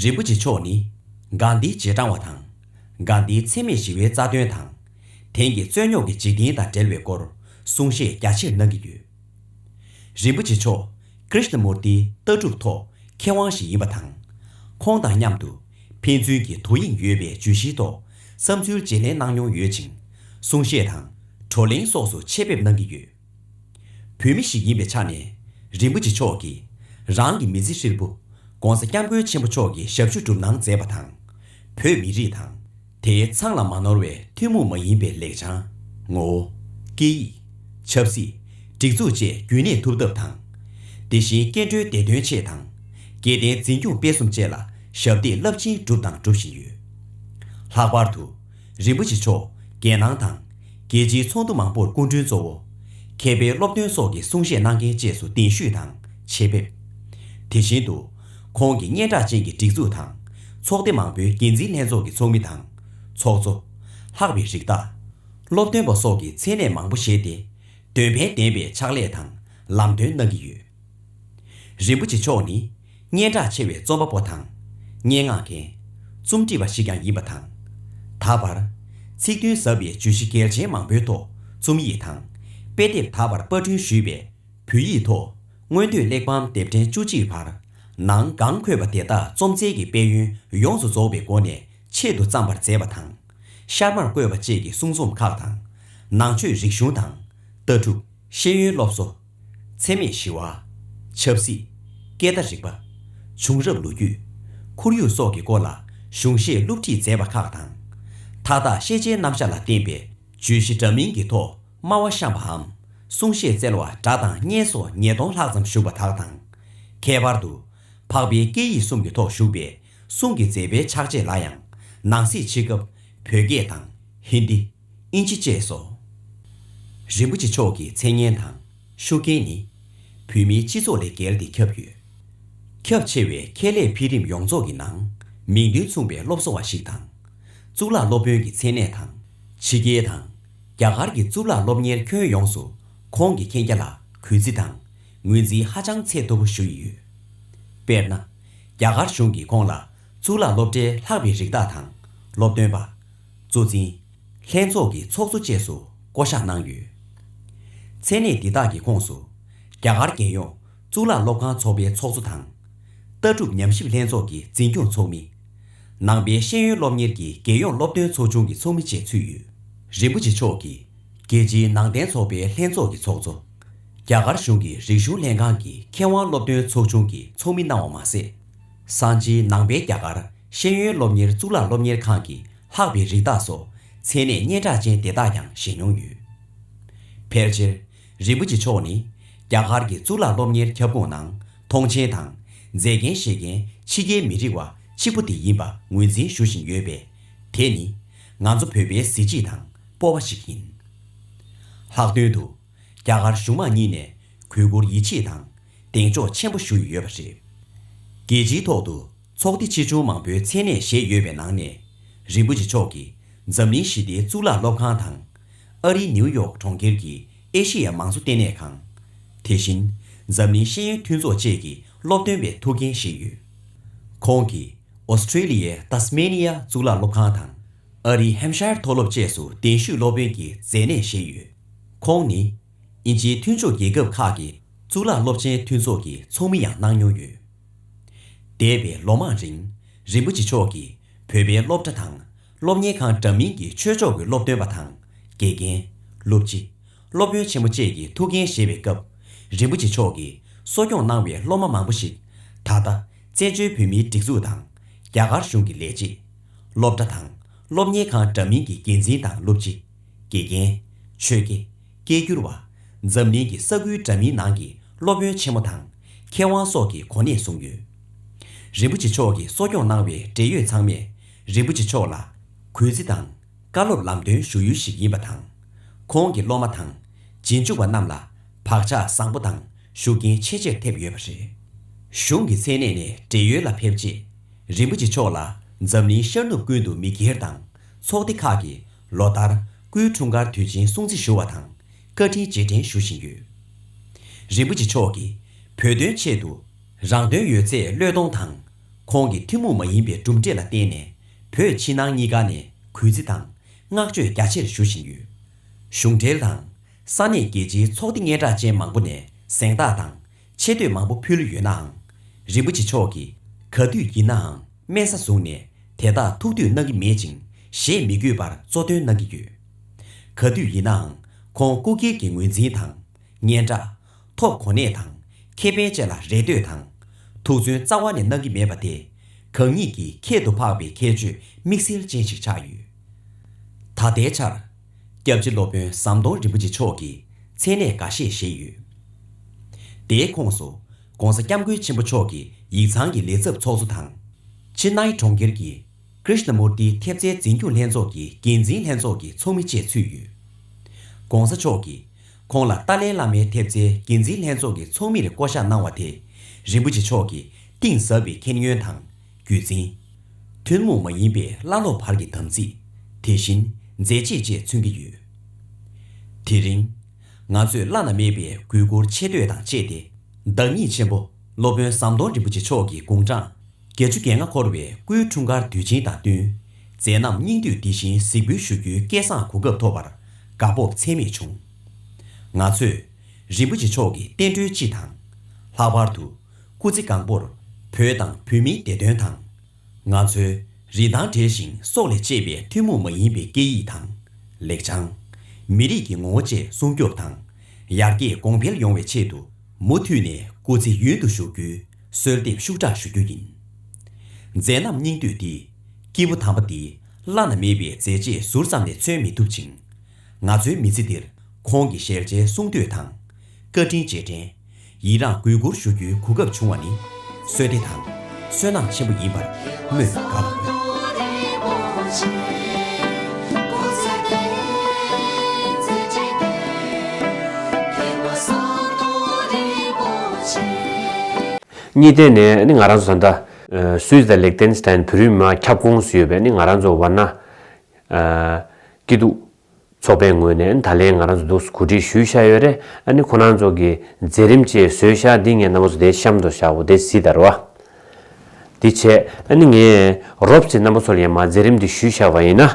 རིན་པོ་ཆེ་མཆོག་ནི། སྒང་འདིའི་རྗེས་འབྲང་བ་དང། སྒང་འདིའི་འཚེ་མེད་ཞི་བའི་རྩ་དོན་དང། དེང་གི་རྩོད་རྙོག་གི་འཇིག་རྟེན་དང་འབྲེལ་བའི་སྐོར་གསུང་བཤད་རྒྱ་ཆེར་གནང་གི་ཡོད། རིན་པོ་ཆེ་མཆོག Krishnamurti ལྟ་གྲུབ་ཐོག་མཁས་དབང་ཞིག་ཡིན་པ་དང། ཁོང་དང་མཉམ་དུ་ཕན་ཚུན་གྱི་དོ་དབྱིངས་ཡོད་པའི་བརྗོད་གཞིའི་ཐོག་བསམ་ཚུལ་བརྗེ་ལེན་གནང་མྱོང་ཡོད་ཅིང་གསུང་བཤད་དང། བགྲོ་གླེང་སོགས་སུ་ཆེད་ཕེབས་གནང་གི་ཡོད། བོད་མི་ཞིག་ཡིན་པའི་ཆ་ནས་རིན་པོ་ཆེ་མཆོག་གིས་རང་གི་མི་ཚེ་ཧྲིལ་པོ ྋགོང་ས ྋསྐྱབས་མགོན་ཆེན་པོ་མཆོག་གི་ཞབས་ཞུ་སྒྲུབ་གནང་མཛད་པ་དང། བོད་མི་རིགས་དང་དེའི་མཚང་ལ་མ་ནོར་བའི་ཐུན་མོང་མ་ཡིན་པའི་ལེགས་བྱང། ངོ་བོ། སྐད་ཡིག། ཆབ་སྲིད། སྒྲིག་འཛུགས་བཅས་རྒྱུན་གནས་ཐུབ་ཐབས་དང། དེ་བཞིན་སྐྱེ་འགྲོའི་བདེ་དོན་ཆེད་དང། སྐྱེ་ལྡན་འཛིན་སྐྱོང་སྤེལ་གསུམ་བཅས་ལ་ཞབས་འདེགས་རླབས་ཆེན་བསྒྲུབས་དང་སྒྲུབ་བཞིན་ཡོད། ལྷག་པར་དུ། རིན་པོ་ཆེ་མཆོག་རྒྱལ་ནང་དང། རྒྱལ་སྤྱིའི་ཚོགས་འདུ་མང་པོར་སྐུ་མགྲོན་གཙོ་བོ། མཁས་པའི་སློབ་སྟོན་སོགས་ཀྱི་གསུང་བཤད་གནང་མཁན་བཅས་སུ་གདན་ཞུས་དང་ཆེད་ཕེབས། དེ་བཞིན་དུ། ཁོང་གི་སྙན་གྲགས་ཅན་གྱི་སྒྲིག་འཛུགས་དང། ཚོགས་སྡེ་མང་པོའི་འགན་འཛིན་ལྷན་ཚོགས་ཀྱི་ཚོགས་མི་དང། ཚོགས་གཙོ། ལྷག་པའི་རིགས་བདག། སློབ་སྟོན་པ་སོགས་ཀྱི་མཚན་གནས་མང་པོ་བཞེས་ཏེ། འདོན་ཕན་ལྡན་པའི་ཕྱག་ལས་དང་ལམ་སྟོན་གནང་གི་ཡོད། རིན་པོ་ཆེ་མཆོག་ནི། སྙན་གྲགས་ཆེ་བའི་རྩོམ་པ་པོ་དང། སྙན་ངག་མཁན། རྩོམ་སྒྲིག་པ་ཞིག་ཀྱང་ཡིན་པ་དང། ད་བར། ཚིག་དོན་ཟབ་པའི་བརྗོད་གཞི་གལ་ཆེན་མང་པོའི་ཐོག་རྩོམ་ཡིག་དང། དཔེ་དེབ་ད་བར་དཔར་སྐྲུན་ཞུས་པའི། བོད་ཡིག་ཐོག་སྔོན་དུས་གླེགས་བམ་དེབ་ཕྲེང་བཅུ་གཅིག་བར། ནང་སྒང་འཁོད་པ་དེ་དག་རྩོམ་རྩལ་གྱི་དཔལ་ཡོན་ཡོངས་སུ་རྫོགས་པའི་སྒོ་ནས་ཆེད་དུ་བརྩམས་པར་མཛད་པ་དང། ཤར་མར་བཀོད་པ་བཅས་ཀྱི་གསུང་རྩོམ་ཁག་དང། ནང་ཆོས་རིག་གཞུང་དང། ལྟ་གྲུབ། ཤེས་ཡོན་སློབ་གསོ། འཚེ་མེད་ཞི་བ། ཆབ་སྲིད། སྐད་བརྡ་རིག་པ། བྱུང་རབས་ལོ་རྒྱུས། ཁོར་ཡུག་སོགས་ཀྱི་སྐོར་ལ་གཞུང་བཞེས་བསླུ་བྲིད་མཛད་པ་ཁག་དང། མཐའ་དག་ཤེས་བྱའི་རྣམ་གཞག་ལ་བརྟེན་པའི་བརྗོད་གཞི་འདྲ་མིན་གྱི་ཐོག་སྨྲ་བ་བཤམས་པའམ་གསུང་བཤད་སྩལ་བ་སྒྲ་དང་བརྙན་སོགས་ཉིས་སྟོང་ལྷག་ཙམ་བཞུགས་པ་དག་དང། ཁྱད་པར་དུ། འཕགས་པའི་སྐད་ཡིག་གསུམ་གྱི་ཐོག་བཞུགས་པའི་གསུང་གི་མཛད་པའི་ཕྱག་རྗེས་ལ་ཡང་ནང་གསེས་ཕྱི་སྐབས་བོད་སྐད་དང་ཧིན་དི། ཨིན་ཇི་བཅས་སོ། རིན་པོ་ཆེ་མཆོག་གི་མཚན་སྙན་དང་ཤུགས་རྐྱེན་ནི། བོད་མིའི་སྤྱི་ཚོགས་ལས་བརྒལ་ཏེ་ཁྱབ་ཡོད། ཁྱབ་ཆེ་བའི་ཁྱད་ལས་འཕེལ་རིམ་ཡོངས་རྫོགས་ཀྱི་ནང། མིང་དོན་མཚུངས་པའི་སློབ་གསོ་བ་ཞིག་དང། གཙུག་ལག་སློབ་དཔོན་གྱི་མཚན་གནས་དང། ཕྱི་རྒྱལ་དང། རྒྱ་གར་གྱི་གཙུག་ལག་སློབ་གཉེར་ཁྱོན་ཡོངས་སུ་ཁོང་གི་མཁྱེན་རྒྱ་ལ་གུས་བརྩི་དང་ངོས་འཛིན་ཧ་ཅང་ཚད་མཐོ་པོ་ཞུ་ཡི་ཡོད། དཔེར་ན། རྒྱ་གར་གཞུང་གིས་ཁོང་ལ་གཙུག་ལག་སློབ་གྲྭའི་ལྷག་པའི་རིགས་བདག་དང་སློབ་སྟོན་པ། གཙོ་འཛིན། ལྷན་ཚོགས་ཀྱི་ཚོགས་གཙོ་བཅས་སུ་བསྐོ་བཞག་གནང་ཡོད། མཚན་གནས་འདི་དག་གི་ཁོངས་སུ། རྒྱ་གར་རྒྱལ་ཡོངས་གཙུག་ལག་སློབ་ཁང་ཚོགས་པའི་ཚོགས་གཙོ་དང། ལྟ་གྲུབ་ཉམས་ཞིབ་ལྷན་ཚོགས་ཀྱི་འཛིན་སྐྱོང་ཚོགས་མི། ནང་པའི་ཤེས་ཡོན་སློབ་གཉེར་གྱི་རྒྱལ་ཡོངས་སློབ་སྟོན་ཚོགས་ཆུང་གི་ཚོགས་མི་བཅས་ཚུད་ཡོད། རིན་པོ་ཆེ་མཆོག་གིས་རྒྱལ་སྤྱིའི་ནང་བསྟན་ཚོགས་པའི་ལྷན་ཚོགས་ཀྱི་ཚོགས་གཙོ། རྒྱ་གར་གཞུང་གི་རིག་གཞུང་ལྷན་ཁང་གི་མཁས་དབང་སློབ་སྟོན་ཚོགས་ཆུང་གི་ཚོགས་མི་གནང་བ་མ་ཟད། སང་ཆིའི་ནང་པའི་རྒྱ་གར་ཤེས་ཡོན་སློབ་གཉེར་གཙུག་ལག་སློབ་གཉེར་ཁང་གི་ལྷག་པའི་རིགས་བདག་སོགས་མཚན་གནས་སྙན་གྲགས་ཅན་དེ་དག་ཀྱང་བཞེས་མྱོང་ཡོད། ཕལ་ཆེར། རིན་པོ་ཆེ་མཆོག་ནི། རྒྱ་གར་གྱི་གཙུག་ལག་སློབ་གཉེར་ཁྱབ་ཁོངས་ནང་མཐོང་ཆེན་དང། མཛད་མཁན་བཞེས་མཁན་ཕྱི་རྒྱལ་མི་རིགས་བ་གཅིག་པུ་དེ་ཡིན་པ་ངོས་འཛིན་ཞུ་བཞིན་ཡོད་པས། དེ་ནི། ང་ཚོ་བོད་པའི་གཟི་བརྗིད་དང་སྤོབས་པ་ཞིག་ཡིན། ལྷག་དོན་དུ། རྒྱ་གར་གཞུང་མང་གཉིས་ནས་གུས་བཀུར་ཡིད་ཆེས་དང་གདེང་འཇོག་ཆེན་པོ་ཞུ་ཡི་ཡོད་པ་རེད། རྒྱལ་སྤྱིའི་ཐོག་ཏུ་ཚོགས་སྡེ་ཆེ་ཆུང་མང་པོའི་མཚན་གནས་བཞེས་ཡོད་པའི་ནང་ནས་རིན་པོ་ཆེ་མཆོག་གིས་འཛམ་གླིང་ཞི་བདེའི་གཙུག་ལག་སློབ་ཁང་དང། ཨ་རིའི་ནིའུ་ཡོག་གྲོང་ཁྱེར་གྱི་ཨེ་ཤེ་ཡ་མང་གཙོ་ལྟེ་གནས་ཁང། དེ་བཞིན་འཛམ་གླིང་ཤེས་ཡོན་མཐུན་ཚོགས་བཅས་ཀྱི་སློབ་སྟོན་པའི་ཐུགས་འགན་བཞེས་ཡོད། ཁོང་གིས་ཨོ་སི་ཁྲེ་ལི་ཡའི་ཏཱ་སི་མེ་ནི་ཡ་གཙུག་ལག་སློབ་ཁང་དང། ཨ་རིའི་ཧེམ་ཤཱེར་མཐོ་སློབ་བཅས་སུ་གདན་ཞུས་སློབ་དཔོན་གྱི་མཛད་གནས་བཞེས་ཡོད། ཁོང་ནི། དབྱིན་ཇིའི་མཐུན་ཕྱོགས་རྒྱལ་ཁབ་ཁག་གི་གཙུག་ལག་སློབ་ཆེན་མཐུན་ཚོགས་ཀྱི་ཚོགས་མི་ཡང་གནང་མྱོང་ཡོད། འདས་པའི་ལོ་མང་རིང། རིན་པོ་ཆེ་མཆོག་གིས་བོད་པའི་སློབ་གྲྭ་དང། སློབ་གཉེར་ཁང་འདྲ་མིན་གྱི་ཆོས་ཕྱོགས་ཀྱི་སློབ་སྟོན་པ་དང་དགེ་རྒན། སློབ་སྤྱི། སློབ་དཔོན་ཆེན་མོ་བཅས་ཀྱི་ཐུགས་འགན་བཞེས་པའི་སྐབས། རིན་པོ་ཆེ་མཆོག་གིས་གསོ་སྐྱོང་གནང་བའི་སློབ་མ་མང་པོ་ཞིག་ད་ལྟ། བཙན་བྱོལ་བོད་མིའི་སྒྲིག་འཛུགས་དང། རྒྱ་གར་གཞུང་གི་ལས་བྱེད། སློབ་གྲྭ་དང་སློབ་གཉེར་ཁང་འདྲ་མིན་གྱི་འགན་འཛིན་དང་སློབ་སྤྱི། དགེ་རྒན། ཆོས་དགེ། སྐད་སྒྱུར་བ། འཛམ་གླིང་གི་ས་ཁུལ་འདྲ་མིན་ནང་གི་སློབ་དཔོན་ཆེན་མོ་དང་མཁས་དབང་སོགས་ཀྱི་གོ་གནས་བཟུང་ཡོད། རིན་པོ་ཆེ་མཆོག་གིས་གསོ་སྐྱོང་གནང་བའི་འབྲེལ་ཡོད་ཚང་མས་རིན་པོ་ཆེ་མཆོག་ལ་གུས་བརྩི་དང་བཀའ་སློབ་ལམ་སྟོན་ཞུ་ཡུལ་ཞིག་ཡིན་པ་དང། ཁོང་གི་སློབ་མ་དང་རྗེས་འཇུག་པ་རྣམས་ལ་བག་ཆགས་བཟང་པོ་དང་ཤུགས་རྐྱེན་ཆེས་ཆེར་ཐེབས་ཡོད་པ་རེད། གཞུང་གི་མཚན་གནས་ནས་བགྲེས་ཡོལ་ལ་ཕེབས་རྗེས། རིན་པོ་ཆེ་མཆོག་ལ་འཛམ་གླིང་ཤར་ནུབ་ཀུན་ཏུ་མི་སྒེར་དང་ཚོགས་སྡེ་ཁག་གིས་ལོ་ལྟར་སྐུའི་འཁྲུངས་སྐར་དུས་ཆེན་སྲུང་བརྩི་ཞུ་བ་དང་བཀའ་དྲིན་རྗེས་དྲན་ཞུ་བཞིན་ཡོད། རིན་པོ་ཆེ་མཆོག་གིས་བོད་དོན་ཆེད་དུ། རང་དོན་ཡོད་ཚད་བློས་གཏོང་དང། ཁོང་གི་ཐུན་མོང་མ་ཡིན་པའི་གྲུབ་འབྲས་ལ་བརྟེན་ནས་བོད་ཕྱི་ནང་གཉིས་ཀ་ནས་གུས་བརྩི་དང་བསྔགས་བརྗོད་རྒྱ་ཆེར་ཞུ་བཞིན་ཡོད། གཞུང་འབྲེལ་དང། ས་གནས་རྒྱལ་སྤྱིའི་ཚོགས་སྡེ་སྙན་གྲགས་ཅན་མང་པོ་ནས་གཟེངས་རྟགས་དང་ཆེ་བསྟོད་མང་པོ་ཕུལ་ཡོད་ནའང། རིན་པོ་ཆེ་མཆོག་གིས་ག་དུས་ཡིན་ནའང་དམན་ས་བཟུང་ནས་དེ་དག་ཐུགས་འདོད་གནང་གི་མེད་ཅིང་བཞེས་མི་དགོས་པར་གཙོ་འདོན་གནང་གི་ཡོད། ག་དུས་ཡིན་ནའང་ཁོང་སྐུ་སྒེར་གྱི་ངོས་འཛིན་དང། སྙན་གྲགས། ཐོབ་གོ་གནས་དང། ཁེ་ཕན་བཅས་ལ་རེ་ལྟོས་དང། ཐུགས་བརྩོན་རྩ་བ་ནས་གནང་གི་མེད་པ་དེ། གང་ཉིད་ཀྱིས་ཁྱད་དུ་འཕགས་པའི་ཁྱད་ཆོས་དམིགས་བསལ་ཅན་ཞིག་ཆགས་ཡོད། ད་ལྟའི་ཆར། སྐྱབས་རྗེ་སློབ་དཔོན་ཟམ་གདོང་རིན་པོ་ཆེ་མཆོག་གིས་མཚན་གནས་འགའ་ཤས་བཞེས་ཡོད། དེའི་ཁོངས་སུ། ྋགོང་ས ྋསྐྱབས་མགོན་ཆེན་པོ་མཆོག་གི་ཡིག་ཚང་གི་ལས་ཚབ་ཚོགས་གཙོ་དང། ཆེ་སྣའི་གྲོང་ཁྱེར་གྱི Krishnamurti ཐེབས་རྩའི་འཛིན་སྐྱོང་ལྷན་ཚོགས་ཀྱི་འགན་འཛིན་ལྷན་ཚོགས་ཀྱི་ཚོགས་མི་བཅས་ཚུད་ཡོད། ྋགོང་ས་མཆོག་གིས་ཁོང་ལ་ཏཱ་ལའི་བླ་མའི་ཐེབས་རྩའི་འགན་འཛིན་ལྷན་ཚོགས་ཀྱི་ཚོགས་མིར་བསྐོ་གཞག་གནང་བ་དེས་རིན་པོ་ཆེ་མཆོག་གི་གཏིང་ཟབ་པའི་མཁྱེན་ཡོན་དང་རྒྱུད་འཛིན། ཐུན་མོང་མ་ཡིན་པའི་བླ་སློབ་བར་གྱི་དམ་ཚིག། དེ་བཞིན་མཛད་རྗེས་བཅས་མཚོན་གྱི་ཡོད། དེ་རིང། ང་ཚོས་བླ་ན་མེད་པའི་གུས་བཀུར་ཆེ་བསྟོད་དང་བཅས་ཏེ། བདག་ཉིད་ཆེན་པོ་སློབ་དཔོན་ཟམ་གདོང་རིན་པོ་ཆེ་མཆོག་གི་དགུང་གྲངས་བརྒྱད་ཅུ་གྱ་ལྔ་འཁོར་བའི་སྐུའི་འཁྲུངས་སྐར་དུས་ཆེན་དང་བསྟུན། མཛད་རྣམ་སྙིང་བསྡུས་འདི་བཞིན་གཟིགས་འབུལ་ཞུ་རྒྱུའི་སྐལ་བཟང་གོ་སྐབས་ཐོབ་པར་དགའ་སྤོབས་ཚད་མེད་བྱུང། ང་ཚོས། རིན་པོ་ཆེ་མཆོག་གི་བསྟན་འགྲོའི་སྤྱི་དང། ལྷག་པར་དུ། སྐུ་ཚེ་གང་པོར་བོད་དང་བོད་མིའི་བདེ་དོན་དང། ང་ཚོའི་རིན་ཐང་བྲལ་ཞིང་སྲོག་ལས་གཅེས་པའི་ཐུན་མོང་མ་ཡིན་པའི་སྐད་ཡིག་དང། ལེགས་བྱང། མི་རིགས་ཀྱི་ངོ་བོ་བཅས་སྲུང་སྐྱོབ་དང། ཡར་རྒྱས་གོང་འཕེལ་ཡོང་བའི་ཆེད་དུ་མུ་མཐུད་ནས་སྐུ་ཚེ་ཡུན་དུ་བཞུགས་རྒྱུའི་གསོལ་འདེབས་ཤུགས་དྲག་ཞུ་རྒྱུ་ཡིན། མཛད་རྣམ་སྙིང་བསྡུས་འདི། སྐྱེས་བུ་དམ་པ་འདིའི་བླ་ན་མེད་པའི་མཛད་རྗེས་ཟུར་ཙམ་ལས་མཚོན་མི་ཐུབ་ཅིང། ང་ཚོའི་མི་ཚེ་འདིར་ཁོང་གི་ཞལ་མཇལ་གསུང་བསྟོད་དང། བཀའ་དྲིན་རྗེས་དྲན། ཡིད་རངས་གུས་བཀུར་ཞུ་རྒྱུའི་གོ་སྐབས་བྱུང་བ་ནི། བསོད་བདེ་དང། བསོད་ནམས་ཆེན་པོ་ཡིན་པར་སྨོས་པ་དགའ་བ་ཡོད།
གཉིས་
ཐད་ནས་ནི་ང་རང་ཚོ་ད་ལྟ། Swiss དང Liechtenstein བོད་རིགས་མི་མང་ཁྱབ་ཁོངས་སུ་ཡོད་པས་ནི་ང་རང་ཚོ་བར་ན། སྐྱིད་སྡུག། ཚོགས་པའི་ངོས་ནས་ད་ལན་ང་རང་ཚོ་འདུག་སུ་གོ་སྒྲིག་ཞུས་ཤག་ཡོད་རེད་ཨ་ནི་ཁོ་རང་ཚོ་གི་མཛད་རིམ་བཅས་བཟོས་ཤག་འདི་ངས་ནང་པ་ཚོ་དེའི་གཤམ་དུ་བཞག་འོ་དེ་གཟིགས་དར་བ་འདི་བྱས་ཨ་ནི་ངས་རོབ་ཚེ་རྣམ་པ་ཚོ་ལ་ཡང་མ་མཛད་རིམ་འདི་ཞུས་ཤག་བ་ཡིན་ན་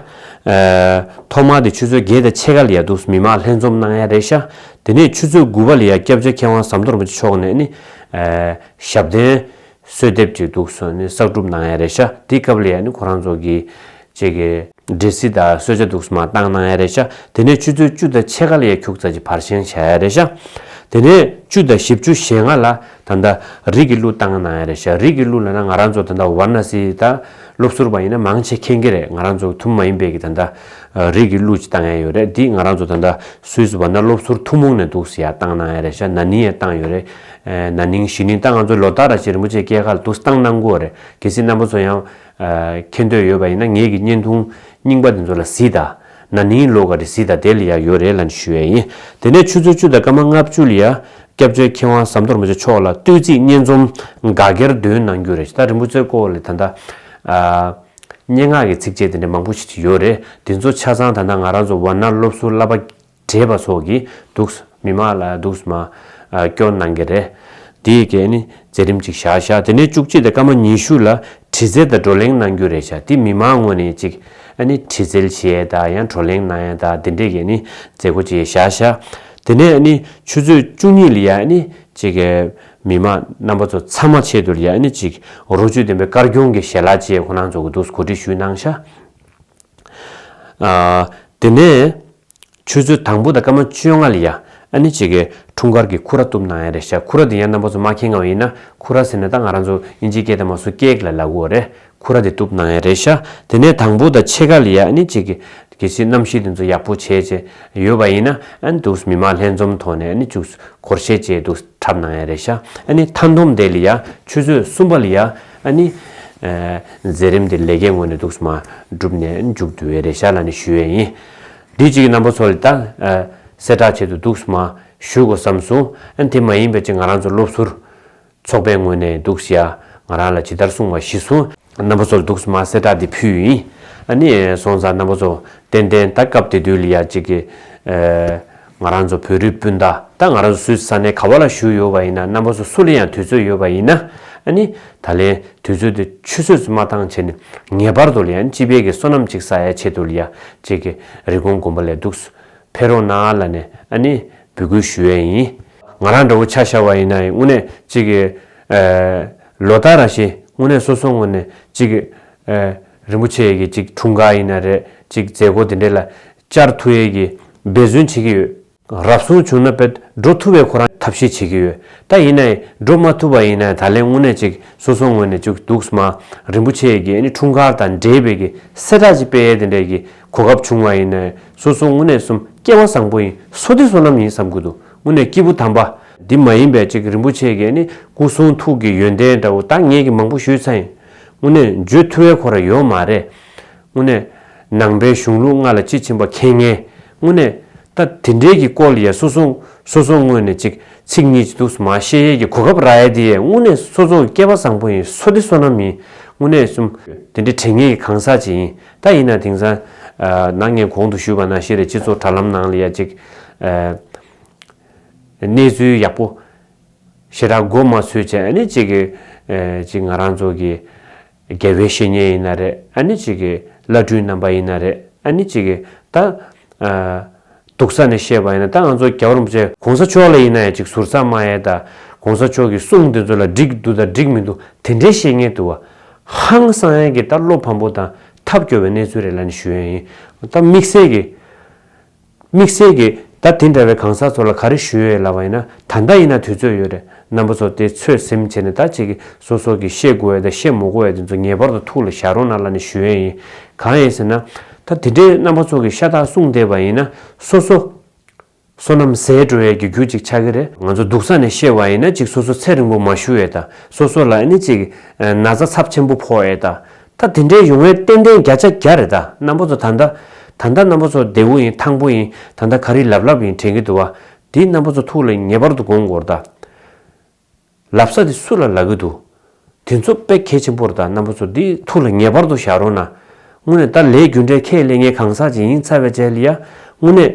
ཐོག་མར་དེ་ཆུ་ཚོད་བརྒྱད་དང་ཕྱེད་ཀ་ལ་ཡང་འདུག་སུ་མི་མང་ལྷན་འཛོམས་གནང་ཡག་རེད་ཤག་དེ་ནས་ཆུ་ཚོད་དགུ་བ་ལ་ཡང་སྐྱབས་བཅོལ་མཁས་དབང་ཟམ་གཏོར་མ་ཅི་མཆོག་ནས་ཨ་ནི་ཞབས་བརྟན་གསོལ་འདེབས་ཀྱི་འདུག་གསོལ་ནི་གསག་སྒྲུབ་གནང་ཡ་རེད་ཤ་དེའི་སྐབས་ལ་ཡ་ནི་ཁོ་རང་ཚོ་གི། ཅེས་ཀྱི། འདྲེ་སྲི་དང་གསོལ་བྱ་འདུག་གསོལ་མ་བཏང་གནང་ཡ་རེད་ཤ་དེ་ནས་ཆུ་ཚོད་བཅུ་དང་ཕྱེད་ཀ་ལ་ཡ་ཁྱུག་ཙག་གྱི་བར་བཞེངས་བྱ་ཡ་རེད་ཤ། དེ་ནས་བཅུ་དང་བཞི་བཅུ་ཞེ་ལྔ་ལ་ད་ལྟ། རིགས་ཀྱི་གླུ་བཏང་གནང་ཡ་རེད་ཤ་རིགས་ཀྱི་གླུ་ལ་ན་ང་རང་ཚོ་ད་ལྟ་བར་ན་སི་དང། སློབ་ཟུར་བ་ཡིན་ན་མང་ཆེ་མཁྱེན་གྱི་རེད་ང་རང་ཚོ་ཐུ་མི་མ་ཡིན་པས་ཀྱི་ད་ལྟ། རིགས་ཀྱི་གླུ་ཅིག་བཏང་ཡ་ཡོད་རེད་འདི་ང་རང་ཚོ་ད་ལྟ་སུའི་སི་བར་ན་སློབ་ཟུར་ཐུ་མོང་ནས་འདུག་སི་ཡ་བཏང་གནང་ཡ་རེད་ཤ་ན་ནིང་ཡ་བཏང་ཡོད་རེད། ན་ནིང་གཞི་ནིང་ད་ང་ཚོ་ལོ་ལྟར་ར་ཤི་རིན་པོ་ཆེ་སྐྱེས་སྐར་དུ་སྟངས་གནང་དགོས་བ་རེད་གལ་སྲིད་རྣམ་པ་ཚོ་ཡང། མཁྱེན་འདོད་ཡོད་བ་ཡིན་ན་ངེད་ཀྱི་བརྙན་ཐུང་རྙིང་པ་དེ་ཚོ་ལ་གཟིགས་དང། ན་ནིང་ལོ་ག་རེ་གཟིགས་དང་དེ་ལ་ཡག་ཡོད་རེད་ལན་ཞུ་ཡས་ཡིན། དེ་ནས་ཆུ་ཚོད་བཅུ་དང་སྐར་མ་ལྔ་བཅུ་ལ་ཡང། སྐྱབས་བཅོལ་མཁས་དབང་ཟམ་གཏོར་མ་ཆེ་མཆོག་ལ་བསྟོད་ཚིག་སྙན་རྩོམ་འགའ་སྒེར་འདོན་གནང་རྒྱུ་རེད་ད་རིན་པོ་ཆེ་སྐོར་ལས་ད་ལྟ། སྙན་ངག་གི་ཚིགས་བཅད་དེ་འདྲ་མང་པོ་ཞིག་ཡོད་རེད་དེ་ཚོ་ཆ་ཚང་ད་ནང་ང་རང་ཚོ་བར་སྣང་སློབ་གསོ་བསླབ་པ། བྲེད་པ་སོགས་ཀྱིས་འདུག། མི་མང་ལ་འདུག། སྐྱོ་སྣང་གི་རེ། དེ་ཡི་གེ་ནི་མཛད་རིམ་ཅིག་བཞག་བཞག་དེ་ནས་བཅུ་གཅིག་དང་སྐར་མ་ཉི་ཤུ་ལ་བྲི་རྩལ་དང་བགྲོ་གླེང་གནང་རྒྱུ་རེ་བྱ་དེ་མི་མང་ངོ་ནས་ཅིག་བྲི་རྩལ་བྱེད་ཡས་དང་ཡང་བགྲོ་གླེང་གནང་ཡས་དང་དེ་འདྲས་ཀྱི་ནི་མཛད་སྒོ་ཅིག་བཞག་བཞག་དེ་ནས་ཆུ་ཚོད་བཅུ་གཉིས་ལ་ཡང་ནི་ཅིག་མི་མང་རྣམ་པ་ཚོ་ཚང་མ་ཆེད་དུ་ལ་ཡང་ནི་ཅིག་རོ་བཅུད་ལྡན་པའི་དཀར་སྐྱོང་གི་ཞལ་ལག་བཅས་ཁོ་ནང་ཚོ་གི་འདུག་གོ་སྒྲིག་ཞུས་གནང་བཞག། དེ་ནས། ཆུ་ཚོད་དང་པོ་དང་སྐར་མ་བཅོ་ལྔ་ལ་ཡ་ཨ་ནི་བྱེད་ཀའི་འཁྲུངས་སྐར་གྱི་ཁུ་ར་བཏུབ་གནང་ཡ་རེད་ཤག་ཁུ་ར་དེ་ཡ་རྣམ་པ་ཚོ་མ་ཁེངས་ངའོ་ཡིན་ན་ཁུ་ར་ཟེར་ནས་ད་ང་རང་ཚོ་དབྱིན་ཇིའི་སྐད་དང་མ་སུ་ཀེག་ལ་ལ་གུ་བ་རེད་ཁུ་ར་དེ་བཏུབ་གནང་ཡ་རེད་ཤག་དེ་ནས་དང་པོ་དང་ཕྱེད་ཀ་ལ་ཡ་ཨ་ནི་བྱེད་ཀའི་ཆེས་རྣམ་ཤེས་དེ་ཚོ་ཡག་པོ་བྱས་བྱས་ཡོད་པ་ཡིན་ན་ཨ་ནི་འདུག་མི་མང་ལྷན་འཛོམས་ཐོག་ནས་ཨ་ནི་བཅུག་གོར་བཤད་བྱས་འདུག་འཁྲབ་གནང་ཡ་རེད་ཤག་ཨ་ནི་མཐའ་འདོམས་དེ་ལ་ཡ་ཆུ་ཚོད་གསུམ་པ་ལ་ཡ་ཨ་ནི་མཛད་རིམ་དེ་ལས་ཀའི་ངོས་ནས་འདུག་མ་བསྒྲུབས་ནས་ཨ་ནི་འཇུག་འདོད་ཡ་རེད་ཤག་ལ་ནི་ཞུ་ཡ་ཡིན། དེ་གཅིག་གི་རྣམ་པ་ཚོ་ལ་དང། གསལ་བསྒྲགས་བྱེད་དུ་འདུག་སྨ། ཞུས་གོ་བསམ་སོང། ཨ་དེ་མ་ཡིན་པའི་ཅི་ང་རང་ཚོ་སློབ་ཟུར། ཚོགས་པའི་ངོས་ནས་འདུག་ཤི་ཨ། ང་རང་ལ་ཇི་ལྟར་གསུངས་བ་ཤི་སོང། རྣམ་པ་ཚོ་ལ་འདུག་སྨ་གསལ་བསྒྲགས་འདི་ཕུལ་ཡིན། ཨ་ནི་སོང་ཙང་རྣམ་པ་ཚོ། ཏན་ཏན་ད་སྐབས་དེ་དུས་ལ་ཡ་གཅིག་གི། ང་རང་ཚོ་བོད་རིགས་སྤུན་ཟླ་ད་ང་རང་ཚོ་སུད་ས་ནས་ག་བ་ལ་བཞུགས་ཡོད་བ་ཡིན་ན་རྣམ་པ་ཚོ་སུ་ལ་ཡང་དུས་ཚོད་ཡོད་བ་ཡིན་ན་ནི་ད་ལན་དུས་ཚོད་དེ་ཆུ་ཚོད་སུ་མ་ཐང་བྱས་ནས་ངེས་པར་དུ་ལ་ཡང་སྤྱི་དཔལ་གྱི་སོ་ནམ་ཅིག་ས་ཡ་ཆེད་དུ་ལ་ཡ་ཅིག་གི་རི་གོང་དགོན་པ་ལས་འདུག་སུ་ཕེ་རོང་ན་ལ་ནས་ནི་འབུད་སྐུལ་ཞུ་ཡས་ཡིན། ང་རང་འདྲ་བོ་ཆ་ཤར་བ་ཡིན་ན་ཡིན་དངོས་གནས་ཅིག་གི་ལོ་ལྟར་ར་ཤེས་དངོས་གནས་སོ་སོ་ངོས་ནས་ཅིག་གི་རིན་པོ་ཆེ་ཡས་ཀྱི་ཅིག་འཁྲུངས་སྐར་ཡིན་ན་རེད་ཅིག་མཛད་སྒོ་དེ་འདྲས་ལ་བཅར་ཐུ་ཡལ་གྱིས་འབད་བརྩོན་བྱེད་ཀྱི་ཡོད། རབ་བྱུང་བྱུང་ན་བོད་འགྲོ་ཐུབ་པའི་ཁོ་རང་ཐབས་ཤེས་བྱེད་ཀྱི་ཡོད། ད་ཡིན་ན་ཡིན་འགྲོ་མ་ཐུབ་པ་ཡིན་ན་ད་ལན་དངོས་གནས་ཅིག་སོ་སོ་ངོས་ནས་བཅུག་འདུག་སྨ་རིན་པོ་ཆེ་ཡི་གེ་འཁྲུངས་སྐར་དང་འབྲེལ་བོད་ཀྱི་གསལ་བསྒྲགས་ཅིག་སྤེལ་ཡས་དེ་འདྲས་ཀྱི་གོ་སྐབས་བྱུང་བ་ཡིན་ན་ཡིན་སོ་སོ་དངོས་གནས་གསུམ་སྐྱེ་བ་བཟང་པོ་ཡིན་སོ་དེ་སོ་ནམ་ཡིན་བསམ་གྱི་འདུག་དངོས་གནས་སྐྱིད་པོ་དམ་པ། འདི་མ་ཡིན་པའི་ཅིག་རིན་པོ་ཆེ་ཡི་གེ་སྐུ་གསུང་ཐུགས་ཀྱི་ཡོན་ཏན་འདྲ་བོ་ད་ངས་ཀྱི་མང་པོ་ཞུས་ཚ་ཡིན་དངོས་གནས་བརྗོད་ཐུ་བའི་ཁོ་ར་ཡོད་མ་རེད། དངོས་གནས། ནང་པའི་གཞུང་ལུགས་ལྔ་ལ་དཔྱིས་ཕྱིན་པ་མཁྱེན་ངེས། དངོས་གནས། ད་དེ་འདྲས་ཀྱི་སྐོར་ཡས་སོ་སོ། སོ་སོ་དངོས་ནས་ཅིག་ཚིག་གཉིས་ཅི་འདུག་སུ་མ་ཤེས་ཡས་ཀྱི་གོ་སྐབས་ར་ཡས་དེ་ཡས་དངོས་གནས་སོ་སོ་སྐྱེ་བ་བཟང་པོ་ཡིན་སོ་དེ་སོ་ནམ་ཡིན་དངོས་གནས་གསུམ། དེ་འདྲས་དྲན་ངེས་ཀྱི་གང་ཟག་ཅིག་ཡིན་ད་ཡིན་ན་དེང་སང། ནང་ངས་གོང་དུ་ཞུས་པ་ནང་ཤེས་རིག་སྤྱི་ཚོགས་དྲ་ལམ་ནང་ལ་ཡ་ཅིག། གནས་ཚུལ་ཡག་པོ། ཞེ་དྲག་མགོ་མ་ཚོས་བྱས་ནས་ཅིག། ཅིག་ང་རང་ཚོ་གི། དགེ་བའི་བཤེས་གཉེན་ཡིན་ན་རེ་ཨ་ནི་གཅིག་གི་བླ་སྤྲུལ་རྣམ་པ་ཡིན་ན་རེ་ཨ་ནི་གཅིག་གི་ད་སྡུག་ས་ནས་ཤེས་པ་ཡིན་ན་ད་ང་ཚོ་རྒྱ་གར་རིན་པོ་ཆེ་གོང་ས་མཆོག་ལ་ཡིན་ན་ཡང་གཅིག་ཟུར་ཟ་མ་ཡལ་ད་གོང་ས་མཆོག་གི་གསུང་དེ་ཚོ་ལ་འགྲིག་འདུག་ད་འགྲིག་མི་འདུག་དེ་འདྲའི་བཤེས་གཉེན་དུ་བ། ཧང་སང་ཡང་གི་ད་བློ་ཕམ་པོ་དང་ཐབས་སྐྱོ་བའི་གནས་ཚུལ་རེ་ལ་ནི་ཞུ་ཡ་ཡིན་ད་དམིགས་བསལ་གི། དམིགས་བསལ་གྱི། ད་དེ་འདྲ་བའི་གང་ཟག་ཚོ་ལ་ག་རེ་ཞུ་ཡོད་ལབ་པ་ཡིན་ན་ད་ལྟ་ཡིན་ན་དུས་ཚོད་ཡོད་རེད་རྣམ་པ་ཚོ་དེ་ཚོད་སེམས་བྱེད་ནས་ད་ཆེ་གི་སོ་སོ་གི་ཤེས་དགོས་ཡས་དང་ཤེས་མོ་དགོས་ཡས་དེ་ཚོ་ངེས་པར་དུ་ཐུགས་ལ་བཞག་རོགས་གནང་ལ་ནི་ཞུ་ཡས་ཡིན་གང་ཡིན་ཟེར་ན། ད་དེ་འདྲའི་རྣམ་པ་ཚོ་གི་ཤ་སྟག་གསུངས་བསྡད་པ་ཡིན་ན་སོ་སོ་སོ་ནམ་ཟས་དྲོ་ཡས་ཀྱི་རྒྱུ་གཅིག་ཆགས་ཀྱི་རེད། ང་ཚོ་སྡུག་ས་ནས་ཤེས་བ་ཡིན་ན་གཅིག་སོ་སོ་ཚད་རིང་པོ་མ་ཞུ་ཡས་དང་སོ་སོ་ལ་ཨ་ནི་གཅིག་ན་ཚ་ཚབས་ཆེན་པོ་ཕོག་ཡས་དང། ད་དེ་འདྲའི་ཡོང་བའི་ཏན་ཏན་བརྒྱ་ཆ་བརྒྱ་རེད་ད་རྣམ་པོ་ཚོ་ད་ད་ད་ད་རྣམ་པོ་ཚོ་བདེ་བོ་ཡིན་ཐང་པོ་ཡིན་ད་ད་ག་རི་ལབ་ལབ་ཡིན་དྲན་གི་འདུག་བ་འདི་རྣམ་པོ་ཚོ་ཐུགས་ལ་ངེས་པར་དུ་དགོངས་དགོར་ད། ལབ་ས་དེ་སུ་ལ་ལབ་གི་འདུག་དེ་ཚོ་དཔེ་གལ་ཆེན་པོར་ད་རྣམ་པོ་ཚོ་འདི་ཐུགས་ལ་ངེས་པར་དུ་བཞག་རོགས་ན། དངོས་ནས་ད་ལས་རྒྱུ་འབྲས་ཁས་ལེན་ངས་གང་ཟག་ཅིག་ཡིན་ཚར་བས་ཅལ་ཡ་དངོས་གནས།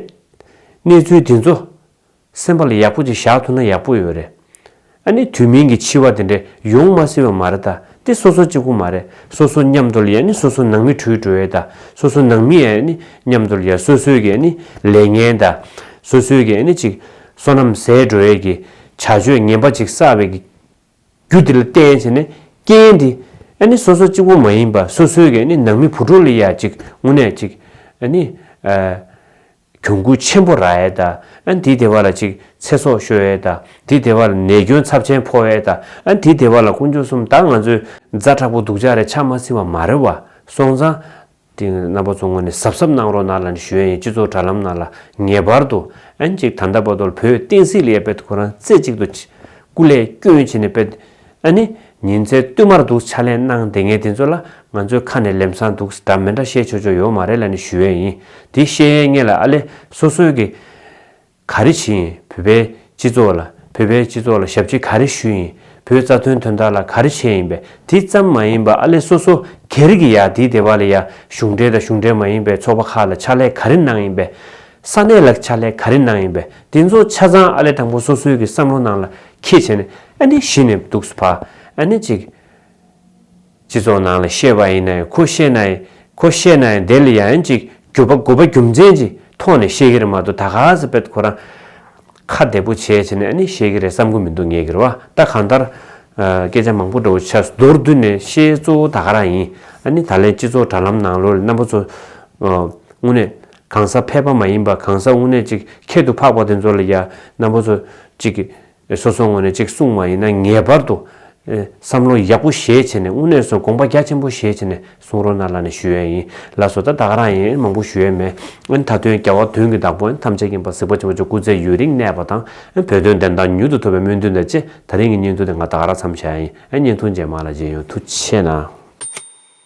གནས་ཚུལ་དེ་ཚོ། སེམས་པ་ལ་ཡག་པོ་ཅིག་བཞག་ཐུབ་ན་ཡག་པོ་ཡོད་རེད། ཨ་ནི་དུས་མིན་གྱི་འཆི་བ་དེ་འདྲས་ཡོང་མ་སྲིད་པ་མ་རེད་ད་དེ་སོ་སོ་གཅིག་པོ་མ་རེད་སོ་སོ་མཉམ་དུ་ལ་ཡ་ནི་སོ་སོ་ནང་མི་འཁྲུལ་འགྲོ་ཡ་ད་སོ་སོ་ནང་མི་ཡ་ནི་མཉམ་དུ་ལ་ཡ་སོ་སོའི་གི་ཨ་ནི་ལས་ངན་ད་སོ་སོའི་གི་ཨ་ནི་ཅིག་སོ་ནམ་ཟས་འགྲོ་ཡ་གི་བྱ་སྤྱོད་ངན་པ་ཅིག་བསགས་པའི་གི་རྒྱུ་དེ་ལ་བརྟེན་བྱས་ནས་རྐྱེན་དེ་ཨ་ནི་སོ་སོ་གཅིག་པོ་མ་ཡིན་པ་སོ་སོའི་གི་ཨ་ནི་ནང་མི་བུ་ཕྲུག་ལ་ཡ་ཅིག་དངོས་གནས་ཅིག་ཨ་ནི་ཨ། གྱོང་གུད་ཆེན་པོ་རག་ཨེ་ད་ཨ་འདི་སྡེ་བ་ལ་ཅིག་ཚེ་སྲོག་ཤོར་ཨེ་ད་འདི་སྡེ་བ་ལ་ནད་སྐྱོན་ཚབས་ཆེན་ཕོག་ཨེ་ད་ཨ་འདི་སྡེ་བ་ལ་དཀོན་མཆོག་སུམ་བདག་ང་ཚོའི་རྫ་དྲག་པོ་འདུག་ཅག་རེ་ཆག་མ་ཟིན་བ་མ་རེད་བ་སོང་ཙང། དེ་རྣམ་པ་ཚོ་ངོ་ནས་གཟབ་གཟབ་གནང་རོགས་གནང་ལ་ནི་ཞུ་ཡ་ཡིན་སྤྱི་ཚོགས་དྲ་ལམ་ནང་ལ་ངེས་པར་དུ་ཨན་ཅིག་ད་ཟླ་པ་དོལ་བོད་བསྟན་སྲིད་ལ་ཡ་པད་དུ་ཁོ་རང་རྩེ་གཅིག་ཏུ་སྐུ་ལས་བསྐྱོན་བྱེད་ནས་པད་ཨ་ནི། ཉིན་མཚན་བསྟུད་མར་འདུག་ཕྱག་ལེན་གནང་བདེ་ངས་དེ་ཚོ་ལ་ང་ཚོའི་ཁ་ནས་ལེམ་སང་འདུག་གདའ་མི་འདྲ་བཤད་ཆོག་ཆོག་ཡོད་མ་རེད་ལ་ནི་ཞུ་ཡས་ཡིན་དེ་བཤད་ཡས་ངས་ལ་ཨ་ལས་སོ་སོའི་གི། ག་རེ་བྱེད་ཡིན་བོད་པའི་སྤྱི་ཚོགས་ལ་བོད་པའི་སྤྱི་ཚོགས་ལ་ཞབས་ཕྱི་ག་རེ་ཞུ་ཡིན་བོད་རྩ་དོན་དོན་དག་ལ་ག་རེ་བྱས་ཡིན་པས་དེ་ཙམ་མ་ཡིན་པ་ཨ་ལས་སོ་སོ་གེ་རེ་གི་ཡ་དེའི་སྡེ་བ་ལ་ཡ་གཞུང་འབྲེལ་དང་གཞུང་འབྲེལ་མ་ཡིན་པའི་ཚོགས་པ་ཁག་ལ་ཕྱག་ལས་ག་རེ་གནང་ཡིན་པས། ས་གནས་ལ་ཕྱག་ལས་ག་རེ་གནང་ཡིན་པས་དེ་ཚོ་ཆ་ཚང་ཨ་ལས་དང་པོ་སོ་སོའི་གི་བསམ་བློ་ནང་ལ་ཁྱེད་བྱས་ནས་ཨ་ནི་གཞི་ནས་འདུག་སུ་ཕ་ཨ་ནི་གཅིག། སྤྱི་ཚོགས་ནང་ལ་ཤེས་པ་ཡིན་ན་ཡང་ཁོ་ཤེས་ན་ཡིན་ཁོ་ཤེས་ན་ཡང་དེ་ལ་ཡ་ཡན་ཅིག་གུ་པ་གུ་པ་རྒྱུ་མཚན་གྱི་ཐོག་ནས་ཤེས་ཀྱི་རེད་མ་གཏོགས་ད་ག་ཟེ་པད་ཁོ་རང་ཁ་བདེ་པོ་བྱས་བྱས་ནས་ཨ་ནི་ཤེས་ཀྱི་རེད་བསམ་གྱི་མི་འདུག་ངས་ཀྱི་རེད་བ་ད་གང་ལྟར། སྐད་ཆ་མང་པོ་འདྲ་བོ་ཆགས་སུ་མདོར་བསྡུས་ནས་ཤེས་གཙོ་བོ་ད་ག་རང་ཡིན་ཨ་ནི་ད་ལན་སྤྱི་ཚོགས་དྲ་ལམ་ནང་ལོ་རེ་རྣམ་པ་ཚོ་དངོས་གནས་གང་ཟག་ཕལ་པ་མ་ཡིན་པ་གང་ཟག་དངོས་གནས་གཅིག་ཁྱད་དུ་འཕགས་པ་དེ་ཚོ་ལ་ཡང་ན་པོ་ཚོ་གཅིག་སོ་སོ་དངོས་གནས་གཅིག་གསུངས་མ་ཡིན་ན་ངེས་པར་དུ་བསམ་བློ་ཡག་པོ་ཞེས་བྱས་ནས་དངོས་གནས་སུ་དགོངས་པ་རྒྱ་ཆེན་པོ་ཞེས་བྱས་ནས་གསུང་རོགས་གནང་ལ་ནི་ཞུ་ཡས་ཡིན་ལགས་སོ་ད་ད་ག་རང་ཡིན་མང་པོ་ཞུ་ཡས་མེད་ཨ་ད་དོན་རྒྱ་བ་དོན་གྱི་བདག་པོ་ཨ་ཐམས་ཅད་མཁྱེན་པ་གཟིགས་པ་བྱེད་པོ་ཆོས་སྐུ་ཚེ་ཡུན་རིང་གནས་པ་དང་ཨ་བོད་དོན་བདེན་དང་མྱུར་དུ་ཐོབ་པའི་སྨོན་འདུན་དང་བཅས་ད་རིང་གི་བརྙན་ཐུང་དེ་ང་ད་ག་རང་འཚམས་བཞག་ཡས་ཡིན་ཨ་བརྙན་ཐུང་རྗེས་མ་ལ་རྗེས་ཡོང་ཐུགས་ཆེ་གནང།